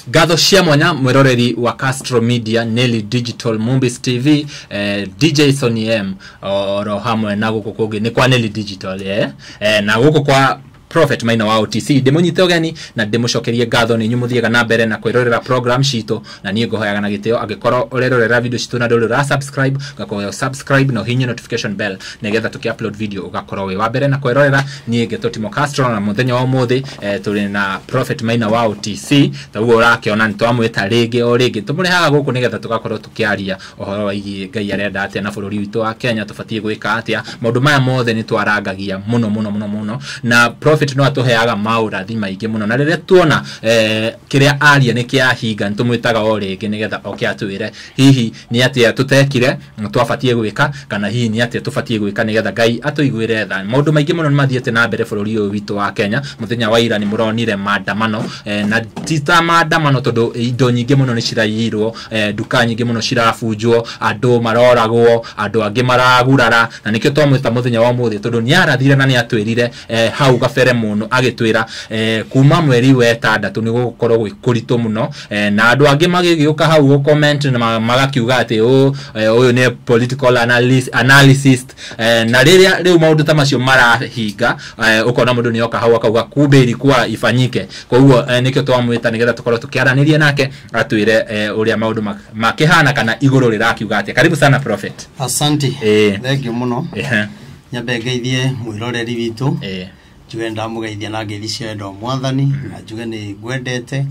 ngatho cia mwanya mwĩroreri wa castro media nelly digital movies tv eh, dj sony m oro hamwe na gũkũ kũngĩ nĩ kwa nelly digital eh? Eh, na gũkũ kwa prophet maina wa otc ndĩmũnyite ũgeni na ndĩmũcokerie ngatho nĩ inyuĩ mũthiaga na mbere na kwĩrorera program citũ na niĩ ngũhoyaga na gĩtĩo angĩkorwo ũrerorera video citũ na ndũrĩ ũra subscribe ngakuhoya subscribe na ũhihinye notification bell nigetha tuki upload video ugakorwo wi wa mbere na kwerorera nie ngeto timo castro na muthenya wa umuthi eh, turi na prophet maina wa utc taguo urakiona ni twamwita ringi o ringi tumurehaga guku nigetha tugakorwo tukiaria uhoro wigie ngai arenda atia na bururi witũ wa kenya tubatie gwika atia maundu maya mothe ni twarangagia muno muno muno muno na prophet no atuheaga maurathi maingi muno na riria tuona eh, kiria aria ni kiahinga ni tumwitaga o ringi nigetha oke atwire hihi Nĩ atĩa tũteekire, twabatiĩ gwĩka, kana hihi nĩ atĩa tũbatiĩ gwĩka nĩ getha Ngai atũiguĩre tha? Maũndũ maingĩ mũno nĩ mathiĩte na mbere bũrũri ũyũ witũ wa Kenya. Mũthenya wa ira nĩ mũronire maandamano, eh, na ti ta maandamano tondũ indo nyingĩ mũno nĩ ciraiyirwo, eh, nduka nyingĩ mũno cirabunjwo, andũ maroragwo, andũ angĩ maragurara, na nĩkĩo twamwĩta mũthenya wa ũmũthĩ tondũ nĩ arathire na nĩ atwĩrire eh, hau gabere mũno agĩtwĩra eh, kuma mweri wa ĩtandatũ nĩ gũgũkorwo gwĩ kũritũ mũno eh, na andũ angĩ magĩgĩũka hau gũ comment na ma- magakiuga atĩ "Ũ, eh, ũyũ nĩ political analyst, analysis eh, na rĩrĩa rĩu maũndũ ta macio marahinga eh, ũkona mũndũ nĩoka hau akauga kumbe ilikuwa ifanyike koguo eh, nĩkĩo twamwĩta nĩgetha tũkorwo tũkĩaranĩria nake atwĩre eh, ũrĩa maũndũ mak- makĩhana kana igũrũ rĩrakiuga atĩa karibu sana prophet Asante. Eh. Thank you muno. Ehe. nyambe ngeithie mwĩroreri witũ ĩĩ njuge ndamũgeithia na ngeithi cia wendo wa mwathani na njuge nĩ ngwendete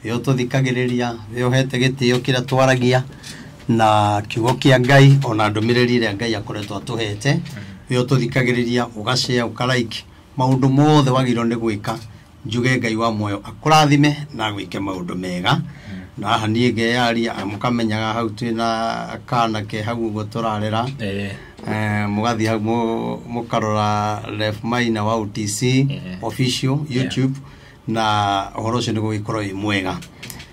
wĩ ũtũthikagĩrĩria wĩ ũhete gĩtĩo kĩrĩa twaragia na kiugo kĩa ngai ona ndũmĩrĩri ĩrĩa ngai akoretwo atũhete wĩ ũtũthikagĩrĩria ũgacea ũkaraiki maũndũ mothe wagĩrĩirwo nĩ gwĩka njuge ngai wa muoyo akũrathime na gwĩke maũndũ mega na haha niĩ ngeyaria ah, mũkamenyaga hau twĩ na kanake hau ũguo tũrarera Eh, Eh, mũgathiĩ hau mũ- mũkarora ref maina wa utc Yeah. official youtube na ũhoro ũcio nĩ gũgĩkorwo wĩ mwega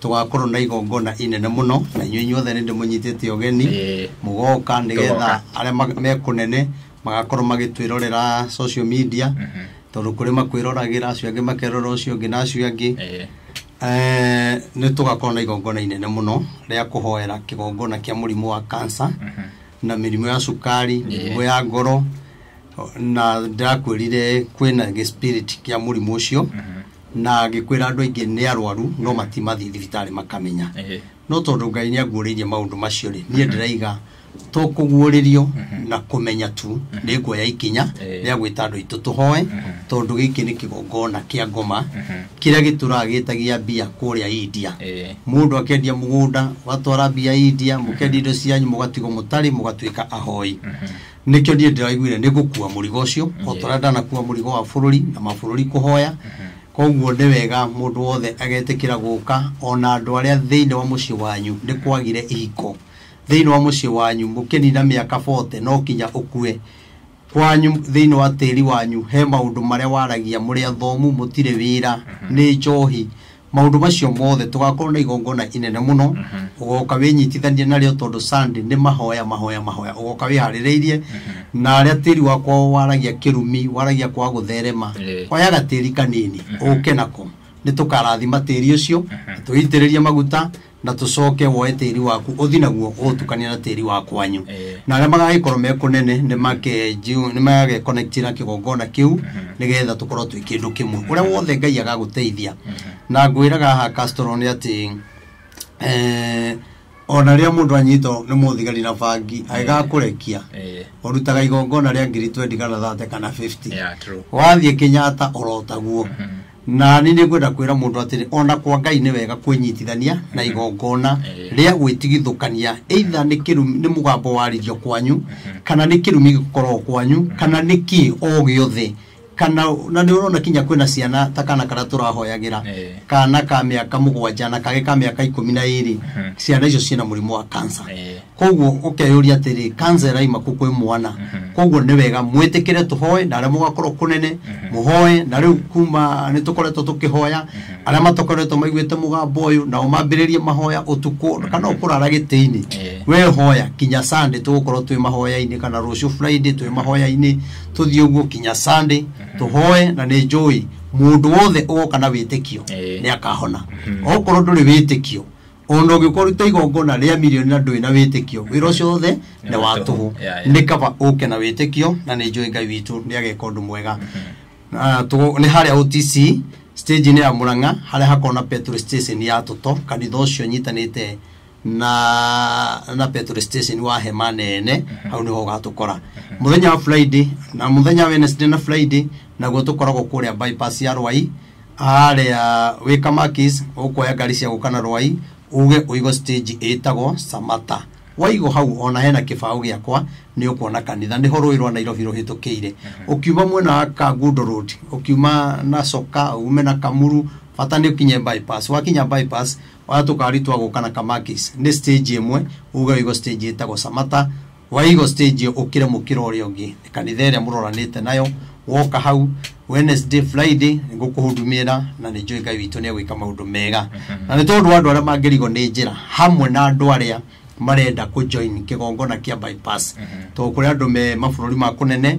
tũgakorwo na igongona inene mũno na inyuĩ inyuothe nĩ ndĩmũnyitĩte ũgeni Eh. mũgoka nĩgetha Tũgoka. arĩa ma- me kũnene magakorwo magĩtwĩrorera social media Mhm. tondũ kũrĩ makwĩroragĩra acio angĩ makerora ũcio ũngĩ na acio angĩ Eh. Eh, nĩ tũgakorwo na igongona inene mũno rĩa kũhoera kĩgongona kĩa mũrimũ wa kansa Mhm. na mĩrimũ ya cukari mĩrimũ ya ngoro na ndĩrakwĩrire kwĩna gĩspirit kĩa mũrimũ ũcio Mhm. na ngĩkwĩra andũ aingĩ nĩ arwaru no matimathiĩ thibitarĩ makamenya Ehe. no tondũ ngai nĩ anguũrĩirie maũndũ macio rĩ niĩ ndĩraiga to kũguũrĩrio na kũmenya tu nĩ nguoya ikinya Eh. rĩa gwĩta andũ aitũ tũhoe tondũ gĩkĩ nĩ kĩgongona kĩa ngoma kĩrĩa gĩtũraga gĩtagia mbia kũrĩa india Eh. mũndũ akendia mũgũnda ũgatwara mbia india mũkendia indo cianyu mũgatigwo mũtarĩ mũgatuĩka ahoi nĩkĩo niĩ ndĩraiguire nĩ gũkua mũrigo ũcio o Yes. tũrĩa ndanakua mũrigo wa bũrũri na mabũrũri kũhoya koguo nĩ wega mũndũ wothe agetĩkĩra gũka ona andũ arĩa thĩinĩ wa mũciĩ wanyu nĩ kwagire ihiko thĩinĩ wa mũciĩ wanyu mũkĩnina mĩaka 40 no kinya ũkue kwanyu thĩinĩ wa tĩri wanyu he maũndũ marĩa waragia mũrĩ athomu mũtirĩ wĩra nĩ njohi Maũndũ macio mothe tũgakorwo na igongona inene mũno ũgoka wĩnyitithanie narĩo tondũ Sunday nĩ mahoya mahoya mahoya ũgoka wĩharĩrĩirie na arĩa tĩri wakwa waragia kĩrumi waragia kwa gũtherema Eh. oya gatĩri kanini ũke nako nĩ tũkarathima tĩri ũcio tũitĩrĩrie maguta na tũcoke woe tĩri waku ũthi naguo ũũtukanie na tĩri wa kwanyu Eh. na arĩa magagĩkorwo me kũnene nĩ makejiu- nĩ magagĩconnect na kĩgongona kĩu nĩgetha tũkorwo twĩ kĩndũ kĩmwe ũrĩa wothe ngai agagũteithia na ngwĩraga haha Castro nĩ atĩ eh, ona rĩrĩa mũndũ anyitwo nĩ mũthigari na bangi agĩgakũrekia Eh, ũrutaga igongona rĩa ngiri twendi kana thate kana 50 yeah, true. wathiĩ kenyatta orotaguo na nĩ nĩngwenda kwĩra mũndũ atĩrĩ ona kwa ngai nĩ wega kwĩnyitithania na igongona Eh. rĩa gwĩtigithũkania either nĩ kĩrumi nĩ mũgambo warĩrio kwanyu kana nĩ kĩrumi gĩkoragwo kwanyu kana nĩ kĩ o gĩothe kana na nĩ ũrona kinya kwĩna ciana ta kana karĩa tũrahoyagĩra Eh. kana ka mĩaka mũgwanja na kagĩ ka mĩaka ikũmi na ĩrĩ Mhm. ciana icio ciĩna mũrimũ wa kansa Eh. koguo ũkeyũria atĩrĩ kansa ĩraima kũ kwĩ mwana koguo nĩ wega mwĩtĩkĩre tũhoe na arĩa mũgakorwo kũnene mũhoe na rĩu kuma nĩ tũkoretwo tũkĩhoya arĩa matokoretwo maiguĩte mũgambo ũyũ nao mambĩrĩrie mahoya ũtukũ kana ũkũrara gĩtĩ-inĩ Eh. we hoya kinya sande tũgũkorwo twĩ mahoya-inĩ kana rũciũ friday twĩ mahoya-inĩ tũthiĩ ũguo kinya sande tũhoe na nĩ njũĩ mũndũ wothe ũgoka na wĩtĩkio Eh. nĩ akahona okorwo ndũrĩ wĩtĩkio o na ũngĩkorwo ruta igongona rĩa mirioni na ndũĩ na wĩtĩkio wĩra ũcio wothe nĩ wa tũhũ Yeah, yeah. nĩ kaba ũke na wĩtĩkio na nĩ njũĩ ngai witũ nĩ ageka ũndũ mwega Na tũgo- nĩ harĩa otc stage-inĩ ya mũrang'a harĩa hakoragwo na petrol station ya tũto kanitha ũcio nyitanĩte na na petrol station wa hema nene hau nĩho ũgatũkora mũthenya wa friday na mũthenya wa wednesday na friday naguo tũkoragwo kũrĩa bypass ya rwai harĩa wĩ kamakis ũkuoya ngari cia gũka na rwai uge ũigo stage ĩtagwo samata waigo hau ona hena kĩbaũ gĩakwa nĩ ũkuona kanitha nĩho rũĩ rwa nairobi rũhĩtũkĩire ũkiuma mwena wa kangundo road ũkiuma na coka ume na kamuru bata nĩ ũkinye bypass wakinya bypass oya tũkari twa gũka na kamakis nĩ stage ĩmwe uge ũigo stage ĩtagwo samata waigo stage ukire mukira uria ungi kanitha iria muroranite nayo woka hau wednesday friday ngukuhudumira na ni njui ngai witũ nĩegwĩka maũndũ mega na nĩ tondũ wa andũ arĩa mangĩrigwo nĩ njĩra hamwe na andũ arĩa marenda kũjoin kĩgongona kĩa bypass tondũ kũrĩ andũ me mabũrũri ma kũnene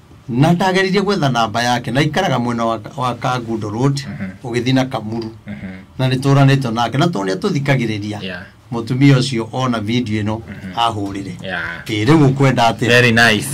na ndageririe gwetha namba yake na ikaraga mwena wa, wa kangundo road ũgĩthiĩ na kamuru na nĩ tũranĩtwo nake na tondũ nĩ atũthikagĩrĩria Yeah. mũtumia ũcio ona video ĩno ahũrĩre Yeah. ĩ rĩu ũkwenda atĩ very nice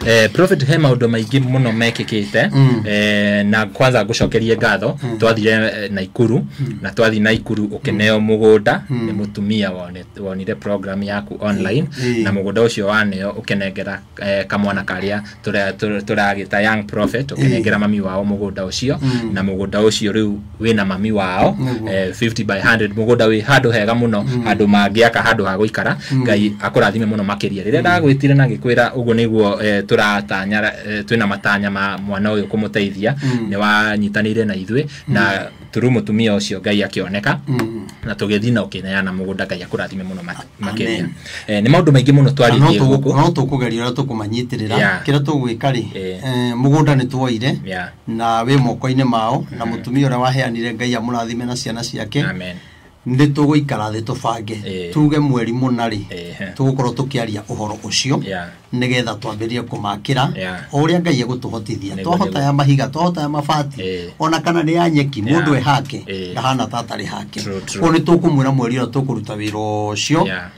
eh, prophet he maundu maingi muno mekikite Mm. eh, na kwanza ngucokerie ngatho twathire eh, naikuru na twathi naikuru ukineo mugunda ni mutumia wone- wonire program yaku online Mm. na mugunda ucio waneo ukinengera eh, kamwana karia tura- tura- turagita young prophet ukinengera mami wao mugunda ucio Mm. na mugunda ucio riu wina mami wao Nĩguo. eh, 50 by 100 mugunda wi handu hega muno andu mangiaka handu ha guikara ngai akurathime muno makiria riria ndagwitire na ngikwira uguo niguo eh, turatanya eh, twina matanya ma mwana uyu kumuteithia ni wanyitanire na ithui na turu mutumia ucio ngai akioneka na tugithii na ukineana mugunda ngai akurathime muno mak- makiria Amen. eh, ni maundu maingi muno twaritie guku no tũkũgeria ũrĩa tũkũmanyitĩrĩra Yeah. kĩrĩa tũgwĩka rĩ Eh. eh, mũgũnda nĩ tuoire Yeah. na wĩ moko-inĩ mao na mũtumia ũrĩa waheanire ngai amũrathime na ciana ciake Amen. nĩ tũgũikara thĩ tũbange Eh. tuge mweri mũna rĩ Eh. tũgũkorwo tũkĩaria ũhoro ũcio Yeah. nĩgetha twambĩrĩrie kũmakĩra Yeah. o ũrĩa ngai egũtũhotithia Nĩguo, twahota nĩguo. ya mahiga twahota ya mabati Eh. ona kana nĩ ya nyeki Yeah. mũndũ ehake Eh. ndahana ta atarĩ hake True, true. koguo nĩ tũkũmwĩra mweri ũrĩa tũkũruta wĩra ũcio Yeah.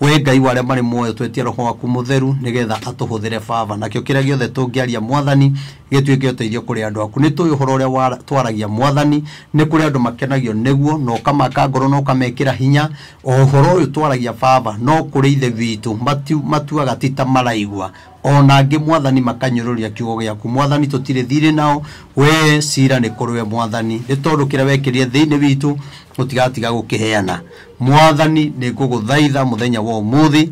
Wee Ngai wa arĩa marĩ muoyo, twetia Roho waku Mũtheru, nĩgeetha atũhũthĩre Baba. Nakĩo kĩrĩa gĩothe tũngĩaria, Mwathani, gĩtuĩke ũteithio kũrĩ andũ aku. Nĩtũũĩ ũhoro ũrĩa wa- twaragia, Mwathani, nĩ kũrĩ andũ makenagio nĩguo, na ũkamaka ngoro, na ũkamekĩra hinya. O ũhoro ũyũ twaragia, Baba, no kũrĩ Ithe witũ, mati- matuaga ti ta maraigua. O na angĩ, mwathani, makanyũrũria kiugo gĩaku. Mwathani, tũtirĩ thiirĩ nao, wee ciira nĩ kũrĩ we, mwathani, nĩ tondũ kĩrĩa wekĩrire thĩinĩ witũ tũtigatiga gũkĩheana. Mwathani, nĩ ngũgũthaitha mũthenya wa ũmũthĩ,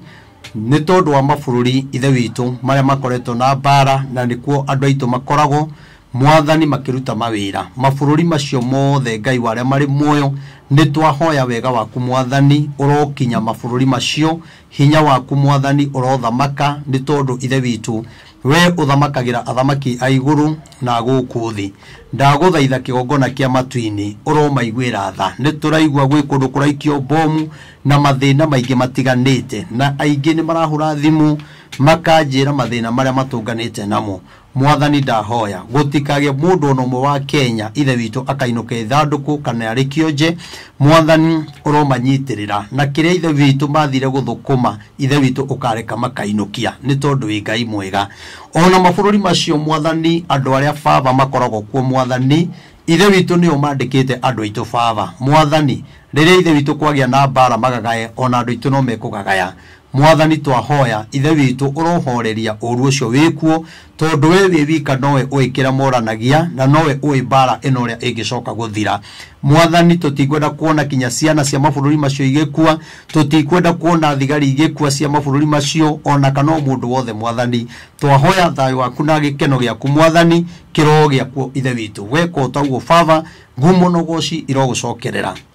nĩ tondũ wa mabũrũri, Ithe witũ, marĩa makoretwo na mbaara, na nĩkuo andũ aitũ makoragwo, mwathani, makĩruta mawĩra. Mabũrũri macio mothe, Ngai wa arĩa marĩ muoyo, nĩ twahoya wega waku, mwathani, ũrokinya mabũrũri macio, Hinya waku Mwathani ũrothamaka, nĩ tondũ Ithe witũ, wee ũthamakagĩra athamaki a igũrũ na a gũkũ thĩ. Ndagũthaitha kĩgongona kĩa matu-inĩ, ũromaiguĩra tha. Nĩ tũraigua gwĩ kũndũ kũraikio mbomu na mathĩna maingĩ matiganĩte, na aingĩ nĩ marahũra thimũ makanjĩra mathĩna marĩa matũnganĩte namo. Mwathani ndahoya gũtikagĩe mũndũ ona ũmwe wa Kenya ithe witũ akainũka ithandũkũ kana arĩ kĩonje Mwathani ũromanyitĩrĩra na kĩrĩa ithe witũ mathire gũthũkũma ithe witũ ũkareka makainũkia nĩ tondũ wĩ Ngai mwega ona mabũrũri macio Mwathani andũ arĩa baba makoragwo kuo Mwathani ithe witũ nĩo mandĩkĩte andũ aitũ baba Mwathani rĩrĩa ithe witũ kwagĩa na mbara magagae ona andũ aitũ no mekũgagaya Mwathani twahoya, Ithe witũ, ũrohooreria ũũru ũcio wĩ kuo, tondũ wee wĩ wika nowe ũĩ kĩrĩa moranagia, na nowe ũĩ mbaara ĩno ũrĩa ĩngĩcoka gũthira. Mwathani, tũtikwenda kuona kinya ciana cia mabũrũri macio igĩkua, tũtikwenda kuona thigari igĩkua cia mabũrũri macio, o na kana o mũndũ wothe, Mwathani. Twahoya thayũ waku na gĩkeno gĩaku, Mwathani, kĩroho gĩakuo, Ithe witũ. Weka o ta ũguo, Baba, ngumo na ũgooci irogũcokerera.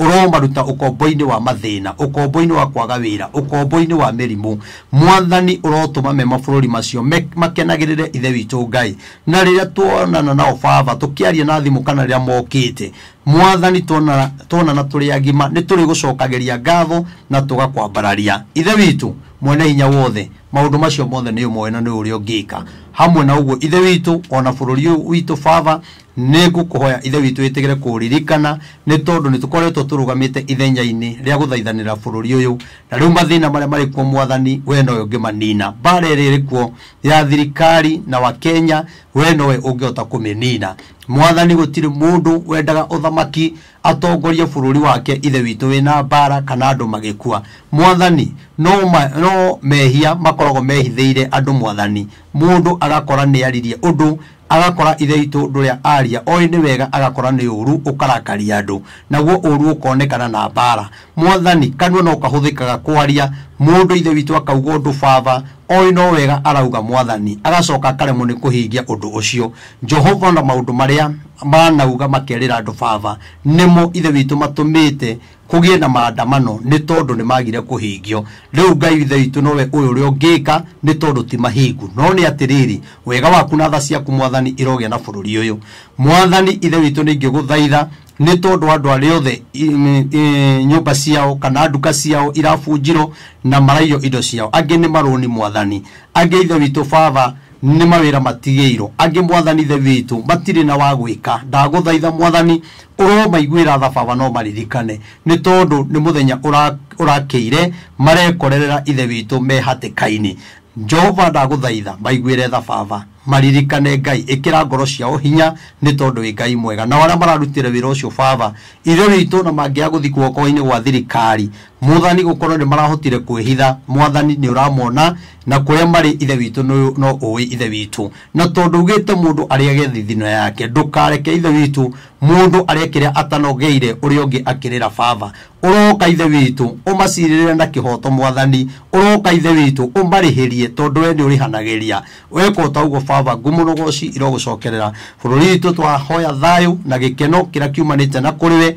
ũromaruta ũkombo-inĩ wa mathĩna ũkombo-inĩ wa kwaga wĩra ũkombo-inĩ wa mĩrimũ mwathani ũrotũma me mabũrũri macio me- makenagĩrĩre ithe witũ ngai na rĩrĩa tuonana nao baba tũkĩaria na thimũ kana rĩrĩa mokĩte mwathani tuonana tuonana tũrĩ agima nĩ tũrĩ gũcokagĩria ngatho na tũgakwambararia ithe witũ mwene hinya wothe maũndũ macio mothe nĩ ũmoe na nĩ ũrĩa ũngĩka hamwe na ũguo ithe witũ ona bũrũri ũyũ witũ baba nĩ ngũkũhoya ithe witũ wĩtĩkĩre kũririkana nĩ tondũ nĩ tũkoretwo tũrũgamĩte ithenya-inĩ rĩa gũthaithanĩra bũrũri ũyũ na rĩu mathĩna marĩa marĩ kuo mwathani we nowe ũngĩmanina mbara ĩrĩa ĩrĩ kuo ya thirikari na wakenya we nowe ũngĩhota kũmĩnina mwathani gũtirĩ mũndũ wendaga ũthamaki atongorie bũrũri wake ithe witũ wĩna mbara kana andũ magĩkua mwathani no, ma, no mehia makoragwo mehithĩire andũ mwathani mũndũ agakora nĩaririe ũndũ agakora ithe itũ ndũrĩa aria oĩ nĩ wega agakora nĩ ũru ũkarakaria andũ naguo ũru ũkonekana na mbara mwathani kanua no kahũthĩkaga kwaria mũndũ ithe witũ akauga ũndũ baba oĩ no wega arauga mwathani agacoka akaremwo nĩ kũhingia ũndũ ũcio jehova na maũndũ marĩa manauga makerĩra andũ baba nĩmo ithe witũ matũmĩte kũgĩe na maandamano nĩ tondũ nĩ magire kũhĩngio rĩu ngai ithe witũ nowe ũyũ ũrĩa ũngĩka nĩ tondũ ti mahingu no nĩ atĩrĩrĩ wega waku na tha ciaku mwathani irogĩa na bũrũri ũyũ mwathani ithe witũ nĩ ingĩgũthaitha nĩ tondũ andũ arĩa othe i- i- i- nyũmba ciao kana nduka ciao irabunjirwo na maraiywo indo ciao angĩ nĩ marũni mwathani angĩ ithe witũ baba nĩ mawĩra matigĩirwo angĩ mwathani the witũ matirĩ na wa gwĩka ndagũthaitha mwathani ũromaiguĩra tha baba no maririkane nĩ tondũ nĩ mũthenya ũra- ũrakĩire marekorerera ithe witũ me hatĩka-inĩ jehova ndagũthaitha maiguĩre tha baba maririkane ngai ĩkĩra ngoro ciao hinya nĩ tondũ wĩ ngai mwega nao arĩa mararutĩra wĩra ũcio baba ithe witũ na mangĩaga gũthiĩ guoko-inĩ gwa thirikari Mũthani gũkorwo nĩ marahotire kwĩhitha, mwathani nĩ ũramona na kũrĩa marĩ ithe witũ nĩ- no ũĩ ithe witũ. Na tondũ ugĩte mũndũ arĩage thithino yake, ndũkareke ithe witũ mũndũ arĩa kĩrĩa atanogeire ũrĩa ũngĩ akĩrĩra baba. Ũroka ithe witũ ũmacirĩrĩre na kĩhoto mwathani, ũroka ithe witũ ũmarĩhĩrie tondũ we nĩ ũrĩhanagĩria. Weka ota ũguo baba, ngumo na ũgoci irogũcokerera. Bũrũri witũ twahoya thayũ na gĩkeno kĩrĩa kiumanĩte na kũrĩ we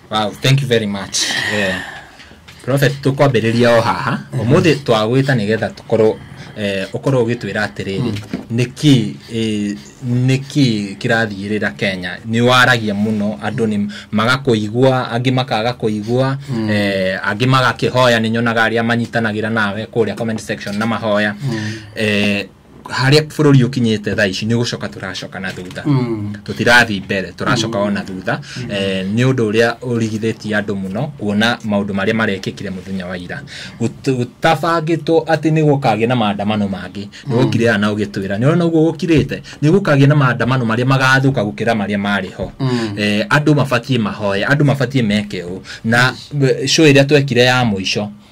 wow thank you very much eh, prophet tũkwambĩrĩria o haha ũmũthĩ twagwĩta nĩgetha tũkorwo eh, ũkorwo ũgĩtwĩra atĩrĩrĩ nĩkĩ eh, nĩkĩ kĩrathiĩrĩra kenya nĩ waragia mũno andũ nĩ magakũigua angĩ makaga kũigua eh, angĩ magakĩhoya nĩ nyonaga arĩa manyitanagĩra nawe kũrĩa comment section na mahoya eh, harĩa bũrũri ũkinyĩte thaa ici nĩ gũcoka tũracoka na thutha Mm. tũtirathiĩ mbere tũracoka o na thutha Eh, nĩ ũndũ ũrĩa ũrigithĩtie andũ mũno kuona maũndũ marĩa marekĩkire mũthenya wa ira Gũt- gũtabangĩtwo atĩ nĩ gũkagĩa na maandamano mangĩ nĩ gũkire aya na ũgĩtwĩra nĩ ũrona ũguo gũkirĩte nĩ gũkagĩa na maandamano marĩa magathũka gũkĩra marĩa marĩ ho Mm. Eh, andũ mabatiĩ mahoya andũ mabatiĩ meke ũũ na eh, show ĩrĩa twekire ya mũico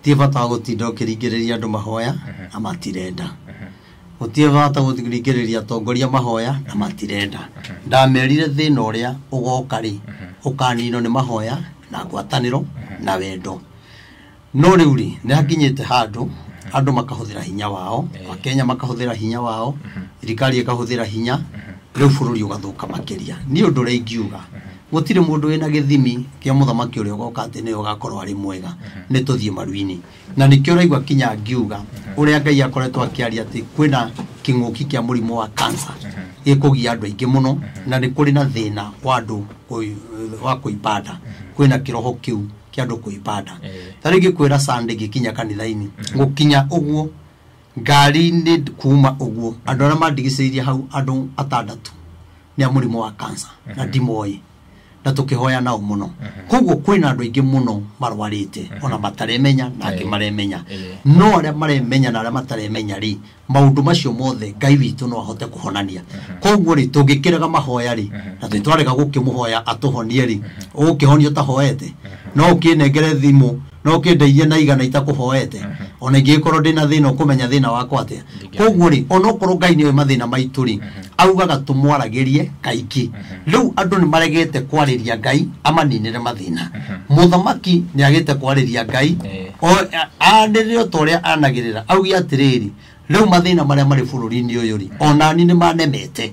gũtirĩ bata wa gũtinda ũkĩringĩrĩria andũ mahoya na matirenda gũtirĩ bata gũringĩrĩria atongoria mahoya na matirenda ndamerire thĩna ũrĩa ũgoka rĩ ũkaninwo nĩ mahoya na ngwatanĩro na wendo no rĩu rĩ nĩ hakinyĩte handũ andũ makahũthĩra hinya wao akenya makahũthĩra hinya wao thirikari ĩkahũthĩra hinya rĩu bũrũri ũgathũka makĩria niĩ ũndũ ũrĩa ingiuga gũtirĩ mũndũ wĩna gĩthimi kĩa mũthamaki ũrĩa ũgoka atĩ nĩwe ũgakorwo arĩ mwega nĩ tũthiĩ maru-inĩ na nĩkĩo ũraigua kinya ngiuga ũrĩa ngai akoretwo akĩaria atĩ kwĩna kĩng'ũki kĩa mũrimũ wa kansa gĩkũgia andũ aingĩ mũno na nĩ kũrĩ na thĩna wa andũ kũi- wa kũibanda kwĩna kĩroho kĩu kĩa andũ kũibanda Eh. ta rĩngĩ kwĩra sande gĩkinya kanitha-inĩ gũkinya ũguo ngari-inĩ kuuma ũguo andũ arĩa mandigicĩirie hau andũ atandatũ nĩ a mũrimũ wa kansa na ndimoĩ na tũkĩhoya nao mũno koguo kwĩna andũ aingĩ mũno marwarĩte ona mataremenya na angĩ Eh. maremenya Eh. no arĩa maremenya na arĩa mataremenya rĩ maũndũ macio mothe ngai witũ no ahote kũhonania koguo rĩ tũngĩkĩrega mahoya rĩ na twĩtwarega gũkĩmũhoya atũhonie rĩ ũgũkĩhonio ũtahoete no ũkĩnengere thimũ no kĩndeithie na igana itakũhoete ona ingĩgĩkorwo ndĩ na thĩna ũkũmenya thĩna wakwa atĩa Ndingĩamenya. koguo rĩ onokorwo ngai nĩoĩ mathĩna maitũ rĩ augaga tũmwaragĩrie kaingĩ rĩu andũ nĩ maregete kwarĩria ngai amaninĩre mathĩna mũthamaki nĩ agĩte kwarĩria ngai Eh. o- a- anĩrĩre o ta ũrĩa anagĩrĩra auge atĩrĩrĩ rĩu mathĩna marĩa marĩ bũrũri-inĩ ũyũ rĩ onani nĩ manemete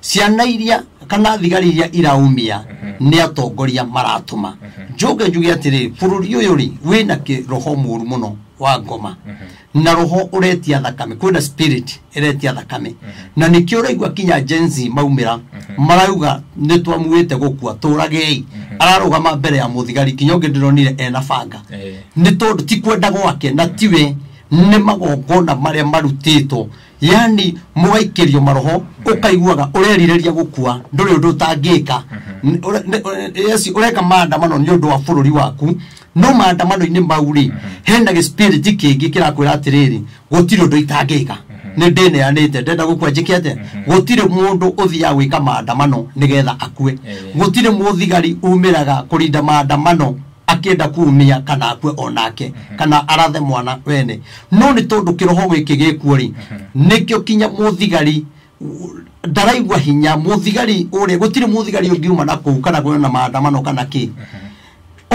ciana iria kana thigari iria iraumia nĩ atongoria maratũma njoke njuge atĩrĩ bũrũri ũyũ rĩ wĩna kĩ- roho mũru mũno wa ngoma na roho ũretia thakame kwĩna spirit ĩretia thakame na nĩkĩo ũraigua kinya jensi maumĩra marauga nĩ twamuĩte gũkua tũragei ararũgama mbere ya mũthigari kinya ũngĩ ndĩronire ena banga Eh. nĩ tondũ ti kwenda gwake na tiwe nĩ magongona marĩa marutĩtwo yani mũgaikĩrio maroho ũkaiguaga ũrerirĩria gũkua ndũrĩ ũndũ ũtangĩka N- ũre- nĩ- ũre- yes, ũreka maandamano nĩ ũndũ wa bũrũri waku no maandamano-inĩ mau rĩ hena gĩspirit kĩngĩ kĩrakwĩra atĩrĩrĩ gũtirĩ ũndũ itangĩka nĩ ndĩneanĩte ndenda gũkua njĩke atĩa gũtirĩ mũndũ ũthiaga gwĩka maandamano nĩgetha akue Eh. gũtirĩ mũthigari umĩraga kũrinda maandamano akĩenda kumia kana akue onake kana arathe mwana wene no nĩ tondũ kĩroho gĩkĩ gĩkuo rĩ nĩkĩo kinya mũthigari u- ndaraigua hinya mũthigari ũrĩa gũtirĩ mũthigari ũngiuma na kũu kana kwĩna na maandamano kana kĩ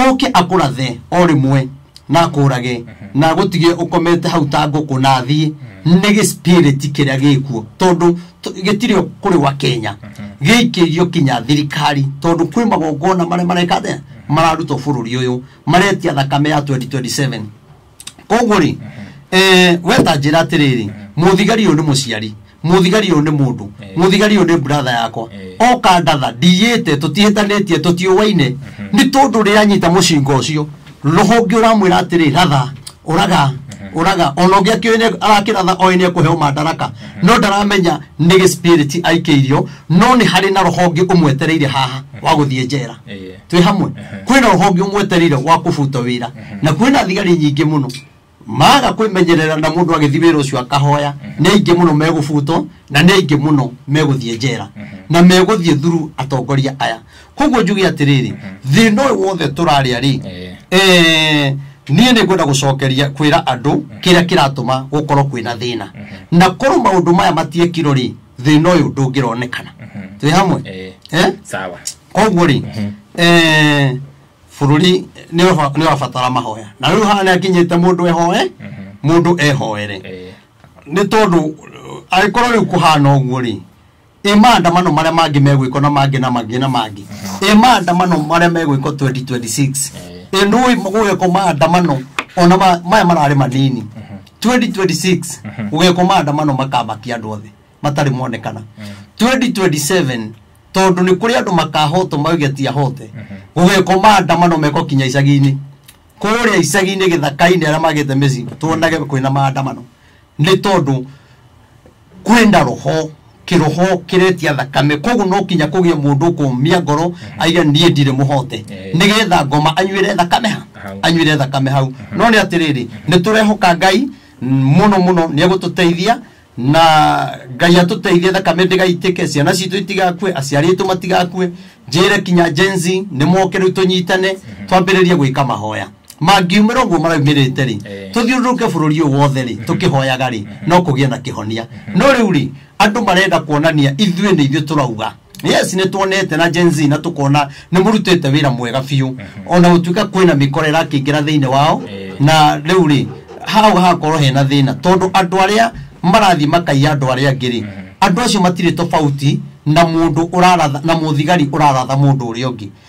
oke akũrathe o rĩmwe na akũrage na gũtige ũkomete hau ta ngũkũ na athiĩ nĩ gĩspiriti kĩrĩa gĩkuo tondũ t- gĩtirĩ o kũrĩ gwa kenya gĩikĩirio kinya thirikari tondũ kwĩ magongona marĩa mareka atĩa mararutwo bũrũri ũyũ maretia thakame ya 2027 koguo rĩ eh, weta njĩra atĩrĩrĩ mũthigari ũyũ nĩ mũciari mũthigari ũyũ nĩ mũndũ Eh. mũthigari ũyũ nĩ buratha yakwa Eh. oka ndatha ndiyĩte tũtiĩtanĩtie tũtiũwaine nĩ tondũ rĩranyita mũcinga ũcio rũhonge ũramwĩra atĩrĩ ratha ũraga ũraga ona ũngĩ akĩũĩ nĩ- arakĩratha oĩ nĩ ekũheo mandaraka no ndaramenya nĩ gĩspirit aikĩirio no nĩ harĩ na roho ũngĩ ũmwetereire haha wa gũthiĩ njera Ĩĩ. twĩ hamwe kwĩna roho ũngĩ ũmwetereire wa kũbuta wĩra na kwĩna thigari nyingĩ mũno maga kwĩmenyerera na mũndũ agĩthiĩ wĩra ũcio akahoya nĩ aingĩ mũno megũbutwo na nĩ aingĩ mũno megũthiĩ njera na megũthiĩ thuru atongoria aya koguo njuge atĩrĩrĩ thĩna ũyũ wothe tũrarĩa rĩ Eh. eh, niĩ nĩ ngwenda gũcokeria kwĩra andũ kĩrĩa kĩratũma gũkorwo kwĩna thĩna na korwo maũndũ maya matiekirwo rĩ thĩna ũyũ ndũngĩronekana twĩ hamwe Eh. Eh? sawa koguo rĩ eh, bũrũri nĩ ũra- nĩ ũrabatara mahoya na rĩu haha nĩ akinyĩte mũndũ ehoe mũndũ ehoere Eh. nĩ tondũ uh, angĩkorwo rĩu kũhana ũguo rĩ ĩ maandamano marĩa mangĩ megwĩkwo na mangĩ na mangĩ na mangĩ ĩ maandamano marĩa megwĩkwo 2026 ĩ nũĩ gũgekwo maandamano ona ma- maya mararĩ manini 2026 gũgekwo maandamano makamakia andũ othe matarĩ monekana 2027 tondũ nĩ kũrĩ andũ makahotwo mauge ti ahote gũgekwo maandamano mekwo kinya icagi-inĩ kũrĩa icagi-inĩ gĩthaka-inĩ arĩa magĩte mĩciĩ tuonage kwĩna maandamano nĩ tondũ kwenda roho kiroho kiretia thakame koguo no kinya kugia mundu kumia ngoro aiga nie ndire muhote Eh. nigetha ngoma anywire thakame ha Hau. anywire thakame hau no ni atiriri ni turehoka ngai muno muno ni agututeithia na ngai atuteithie thakame ndigaitike ciana citũ itigakue aciari aitũ matigakue njĩre kinya jenzi nĩ moke rĩu tũnyitane twambĩrĩrie gwĩka mahoya mangiumĩra ũguo maraumĩrĩte rĩ Eh. tũthiũrũrũke bũrũri ũyũ wothe rĩ tũkĩhoyaga rĩ no kũgĩe na kĩhonia no rĩu rĩ andũ marenda kuonania ithuĩ nĩ ithuĩ tũrauga yes nĩ tuonete na Gen Z na tũkona nĩ mũrutĩte wĩra mwega biũ ona gũtuĩka kwĩna mĩkora ĩrakĩingĩra thĩinĩ wao Eh. na rĩu rĩ hau hagakorwo hena thĩna tondũ andũ arĩa marathiĩ makaiya andũ arĩa angĩ rĩ andũ acio matirĩ tofauti na mũndũ ũraratha na mũthigari ũraratha mũndũ ũrĩa ũngĩ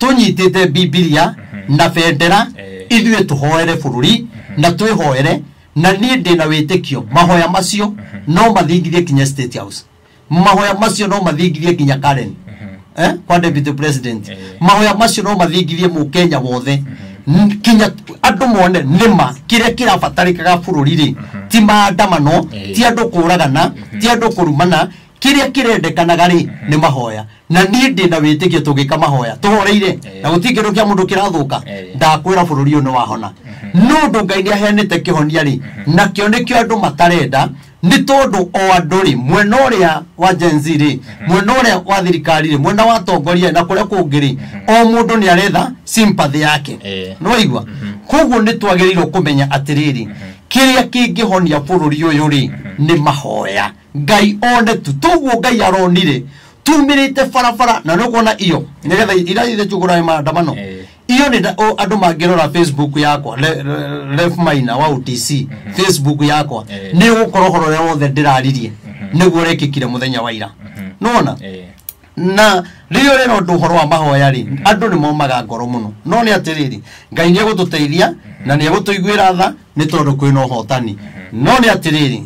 tũnyitĩte bibilia na bendera Eh. ithuĩ tũhoere bũrũri na twĩhoere na niĩ ndĩ na wĩtĩkio mahoya macio no mathingithie kinya state house mahoya macio no mathingithie kinya karen eh? kwa deputy president Eh. mahoya macio no mathingithie mũkenya wothe N- kinya andũ mone nĩma kĩrĩa kĩrabatarĩkaga bũrũri-rĩ ti maandamano Eh. ti andũ kũragana ti andũ kũrumana kĩrĩa kĩrendekanaga rĩ nĩ mahoya na niĩ ndĩ na wĩtĩkio tũngĩka mahoya tũhoreire Eh. na gũtirĩ kĩndũ kĩa mũndũ kĩrathũka Eh. ndakwĩra bũrũri ũyũ nĩ wahona no ũndũ ngai nĩ aheanĩte kĩhonia rĩ nakĩo nĩkĩo andũ matarenda nĩ tondũ o andũ rĩ mwena ũrĩa wa Gen Z rĩ mwena ũrĩa wa thirikari rĩ mwena wa atongoria rĩ, na kũrĩa kũngĩ rĩ o mũndũ nĩ aretha sympathy yake Eh. nĩ waigua koguo nĩ twagĩrĩirwo kũmenya atĩrĩrĩ kĩrĩa kĩngĩhonia bũrũri ũyũ rĩ nĩ mahoya Ngai one tu toguo ngai aronire tumĩrĩte barabara na nĩ kuona iyo nĩgetha irathire tugũrae maandamano Eh. iyo nĩ nda- o- andũ mangĩrora facebook yakwa le- le- ref maina wa utc facebook yakwa Eh. nĩ gũkorwo horo ũrĩa wothe ndĩraririe nĩguo ũrekĩkire mũthenya wa ira nona Eh. na rĩrĩa ũrera ũndũ ũhoro wa mahoya rĩ andũ nĩ momaga ngoro mũno no nĩ atĩrĩrĩ ngai nĩ egũtũteithia na nĩ egũtũiguĩra tha nĩ tondũ kwĩna ũhotani no nĩ atĩrĩrĩ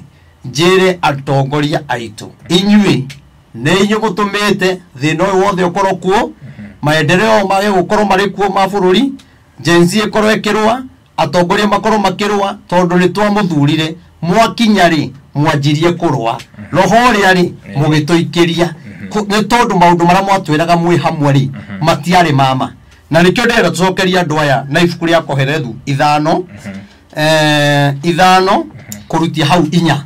njĩre atongoria aitũ inyuĩ nĩ inyuĩ mũtũmĩte thĩna ũyũ wothe ũkorwo kuo maendereo mage gũkorwo marĩ kuo ma bũrũri jenzi ĩkorwo ĩkĩrũa atongoria makorwo makĩrũa tondũ nĩ twamũthurire mwakinya rĩ mwanjirie kũrũa roho ũrĩa rĩ mũgĩtũikĩria Kũ- nĩ tondũ maũndũ marĩa mwatwĩraga mwĩ hamwe rĩ matiarĩ mama na nĩkĩo ndĩrenda tũcokerie andũ aya na ibuku rĩa koherethu ithano eh, ithano kurutia hau inya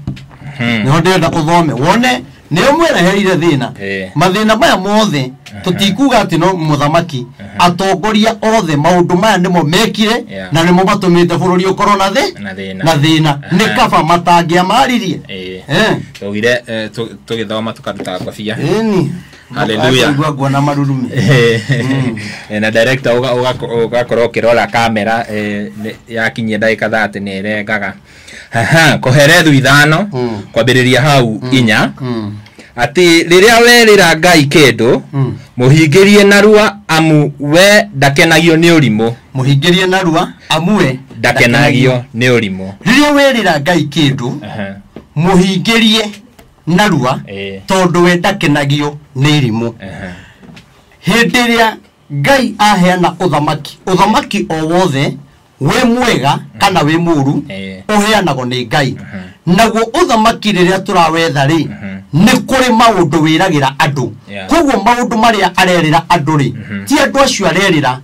niho ndĩrenda ũthome wone nĩo mwereherire thĩna Eh. mathĩna maya mothe tũtikuga atĩ no mũthamaki atongoria othe maũndũ maya nĩmo mekire Yeah. na nĩmo matũmĩte bũrũri ũkorwo na thĩ Na thĩna. na thĩna Aha. nĩ kaba matangĩamaririe Eh. Eh. tugire tũgĩthoma tũkaruta ngobia Ĩni. Hallelujah. Aigua nguona marurumi Eh, na director uga- uga- ugakorwo ukirora kamera eh, nĩ- yakinyia ndagĩka thate nĩ ĩrengaga Haha, koherethu ithano Mm. kwambĩrĩria hau inya Mm, atĩ rĩrĩa werĩra ngai kĩndũ mm. mũhingĩrie narua amu we ndakenagio nĩ ũrimũ mũhingĩrie narua amue ndakenagio nĩ ũrimũ rĩrĩa werĩra ngai kĩndũ Aha. mũhingĩrie narua Eh. tondũ we ndakenagio nĩ irimũ Ehe. hĩndĩ ĩrĩa ngai aheana ũthamaki ũthamaki o wothe wĩ mwega kana wĩ mũru Eh. ũheanagwo nĩ ngai naguo ũthamaki rĩrĩa tũrawetha rĩ nĩ kũrĩ maũndũ wĩragĩra andũ Yeah. koguo maũndũ marĩa arerĩra andũ rĩ ti andũ acio arerĩra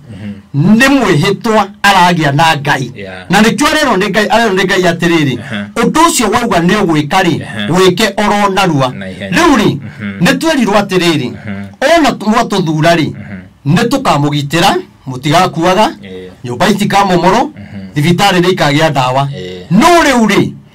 nĩ mwĩhĩtwa aragĩa na ngai Yeah. na nĩkĩo arerwo nĩ ngai arerwo nĩ ngai atĩrĩrĩ Aha. ũndũ ũcio wauga nĩ ũgwĩka rĩ Aha. wĩke oro narua Na ihenya. rĩu rĩ Mhm. nĩ twerirwo atĩrĩrĩ Mhm. ona tu- mwatũthura rĩ nĩ tũkamũgitĩra mũtigakuaga Yeah. nyũmba itikamomoro thibitarĩ nĩ ikagĩa ndawa Yeah. no rĩu rĩ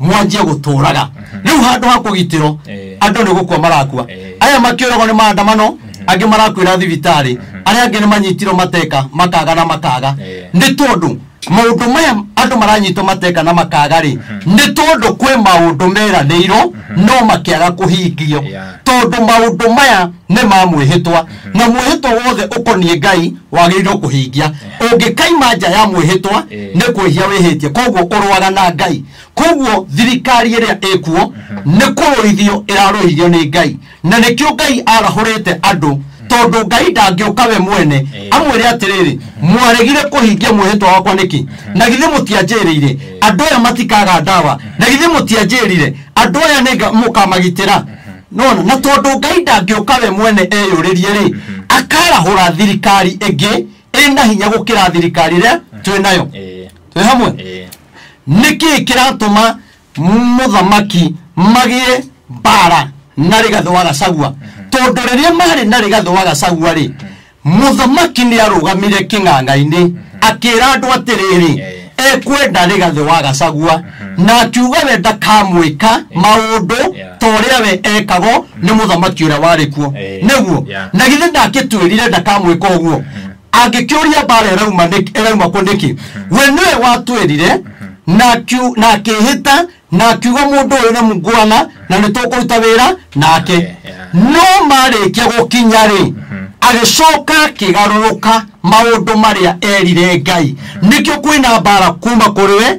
mwanjie gũtũũraga rĩu handũ ha kũgitĩrwo Eh. andũ nĩ gũkua marakua Eh. aya makĩũragwo nĩ maandamano angĩ marakuĩra thibitarĩ arĩa angĩ nĩ manyitirwo mateka makaga na makaga Eh. nĩ tondũ maũndũ maya andũ maranyitwo mateka na makaga rĩ nĩ tondũ kwĩ maũndũ meranĩirwo no makĩaga kũhingio Yeah. tondũ maũndũ maya nĩ ma mwĩhĩtwa na mwĩhĩtwa wothe ũkoniĩ ngai wagĩrĩirwo kũhingia ũngĩkaima nja ya mwĩhĩtwa Eh. nĩ kwĩhia wĩhĩtie koguo ũrwaga na ngai koguo thirikari ĩrĩa ĩkuo nĩ kũrũithio ĩrarũithio nĩ ngai na nĩkĩo ngai arahũrĩte andũ tondũ ngai ndangĩũka we mwene Eh. amwĩre atĩrĩrĩ mwaregire kũhingia mwĩhĩtwa wakwa nĩkĩ na githĩ mũtianjĩrĩire andũ aya matikaga ndawa na githĩ mũtianjĩrire andũ aya nĩ nga- mũkamagitĩra nona na tondũ ngai ndangĩũka we mwene eyũrĩrie rĩ akarahũra thirikari ĩngĩ ĩ na hinya gũkĩra thirikari ĩrĩa twĩ nayo Eh, twĩ hamwe eh, nĩkĩ kĩratũma mũthamaki magĩe mbara na rĩgathĩ wa gacagua tondũ rĩrĩa marĩ na rĩgathĩ wa gacagua rĩ mũthamaki nĩ arũgamire kĩng'ang'a-inĩ akĩra andũ atĩrĩrĩ Eh. ekwenda rĩgathĩ wa gacagua na akiuga we ndakamwĩka maũndũ Yeah. ta ũrĩa we ekagwo nĩ mũthamaki ũrĩa warĩ kuo Eh, nĩguo yeah. na githĩ ndangĩtwĩrire ndakamwĩka ũguo angĩkĩũria mbara ĩrauma nĩkĩ- ĩrauma kũ nĩkĩ we nĩwe watwĩrire na akiu- na akĩhĩta na akiuga mũndũ ũyũ nĩ mngwana na nĩ tũkũruta wĩra nake Yeah, yeah. no marĩkia gũkinya rĩ agĩcoka akĩgarũrũka maũndũ marĩa erire ngai nĩkĩo kwĩna mbara kuma kũrĩ we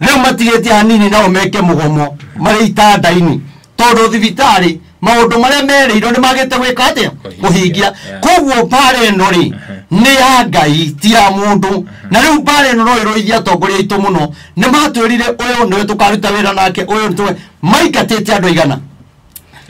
rĩu matigĩtie hanini nao meke mũgomo marĩ itanda-inĩ tondũ thibitarĩ maũndũ marĩa merĩirwo nĩ magĩte gwĩka atĩa kũhingia koguo mbaara ĩno rĩ nĩ ya ngai ti ya mũndũ na rĩu mbaara ĩno no ĩrũithia atongoria aitũ mũno nĩ matwĩrire ũyũ nĩwe tũkaruta wĩra nake ũyũ nĩtũwe maingatĩte andũ aigana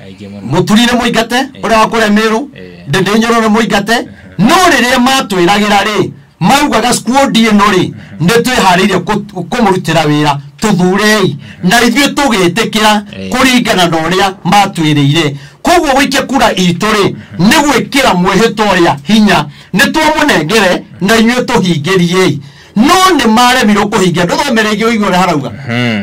aingĩ mũno mũturire mũingate ũrĩa wa kũrĩa mĩrũ Eh. ndĩndĩnyũrũre mũingate no rĩrĩa matwĩragĩra rĩ maugaga skuondi ĩno rĩ nĩ twĩharĩirie kũ- kũmũrutĩra wĩra tũthurei na ithuĩ tũgĩtĩkĩra Eh. kũringana na ũrĩa matwĩrĩire koguo gũikia kura itũ rĩ nĩ gwĩkĩra mwĩhĩtwa ũrĩa hinya nĩ twamũnengere na inyuĩ tũhingĩriei no nĩ maremirwo kũhingia ndũthomere ingĩ ũigua ũrĩa harauga Hmm.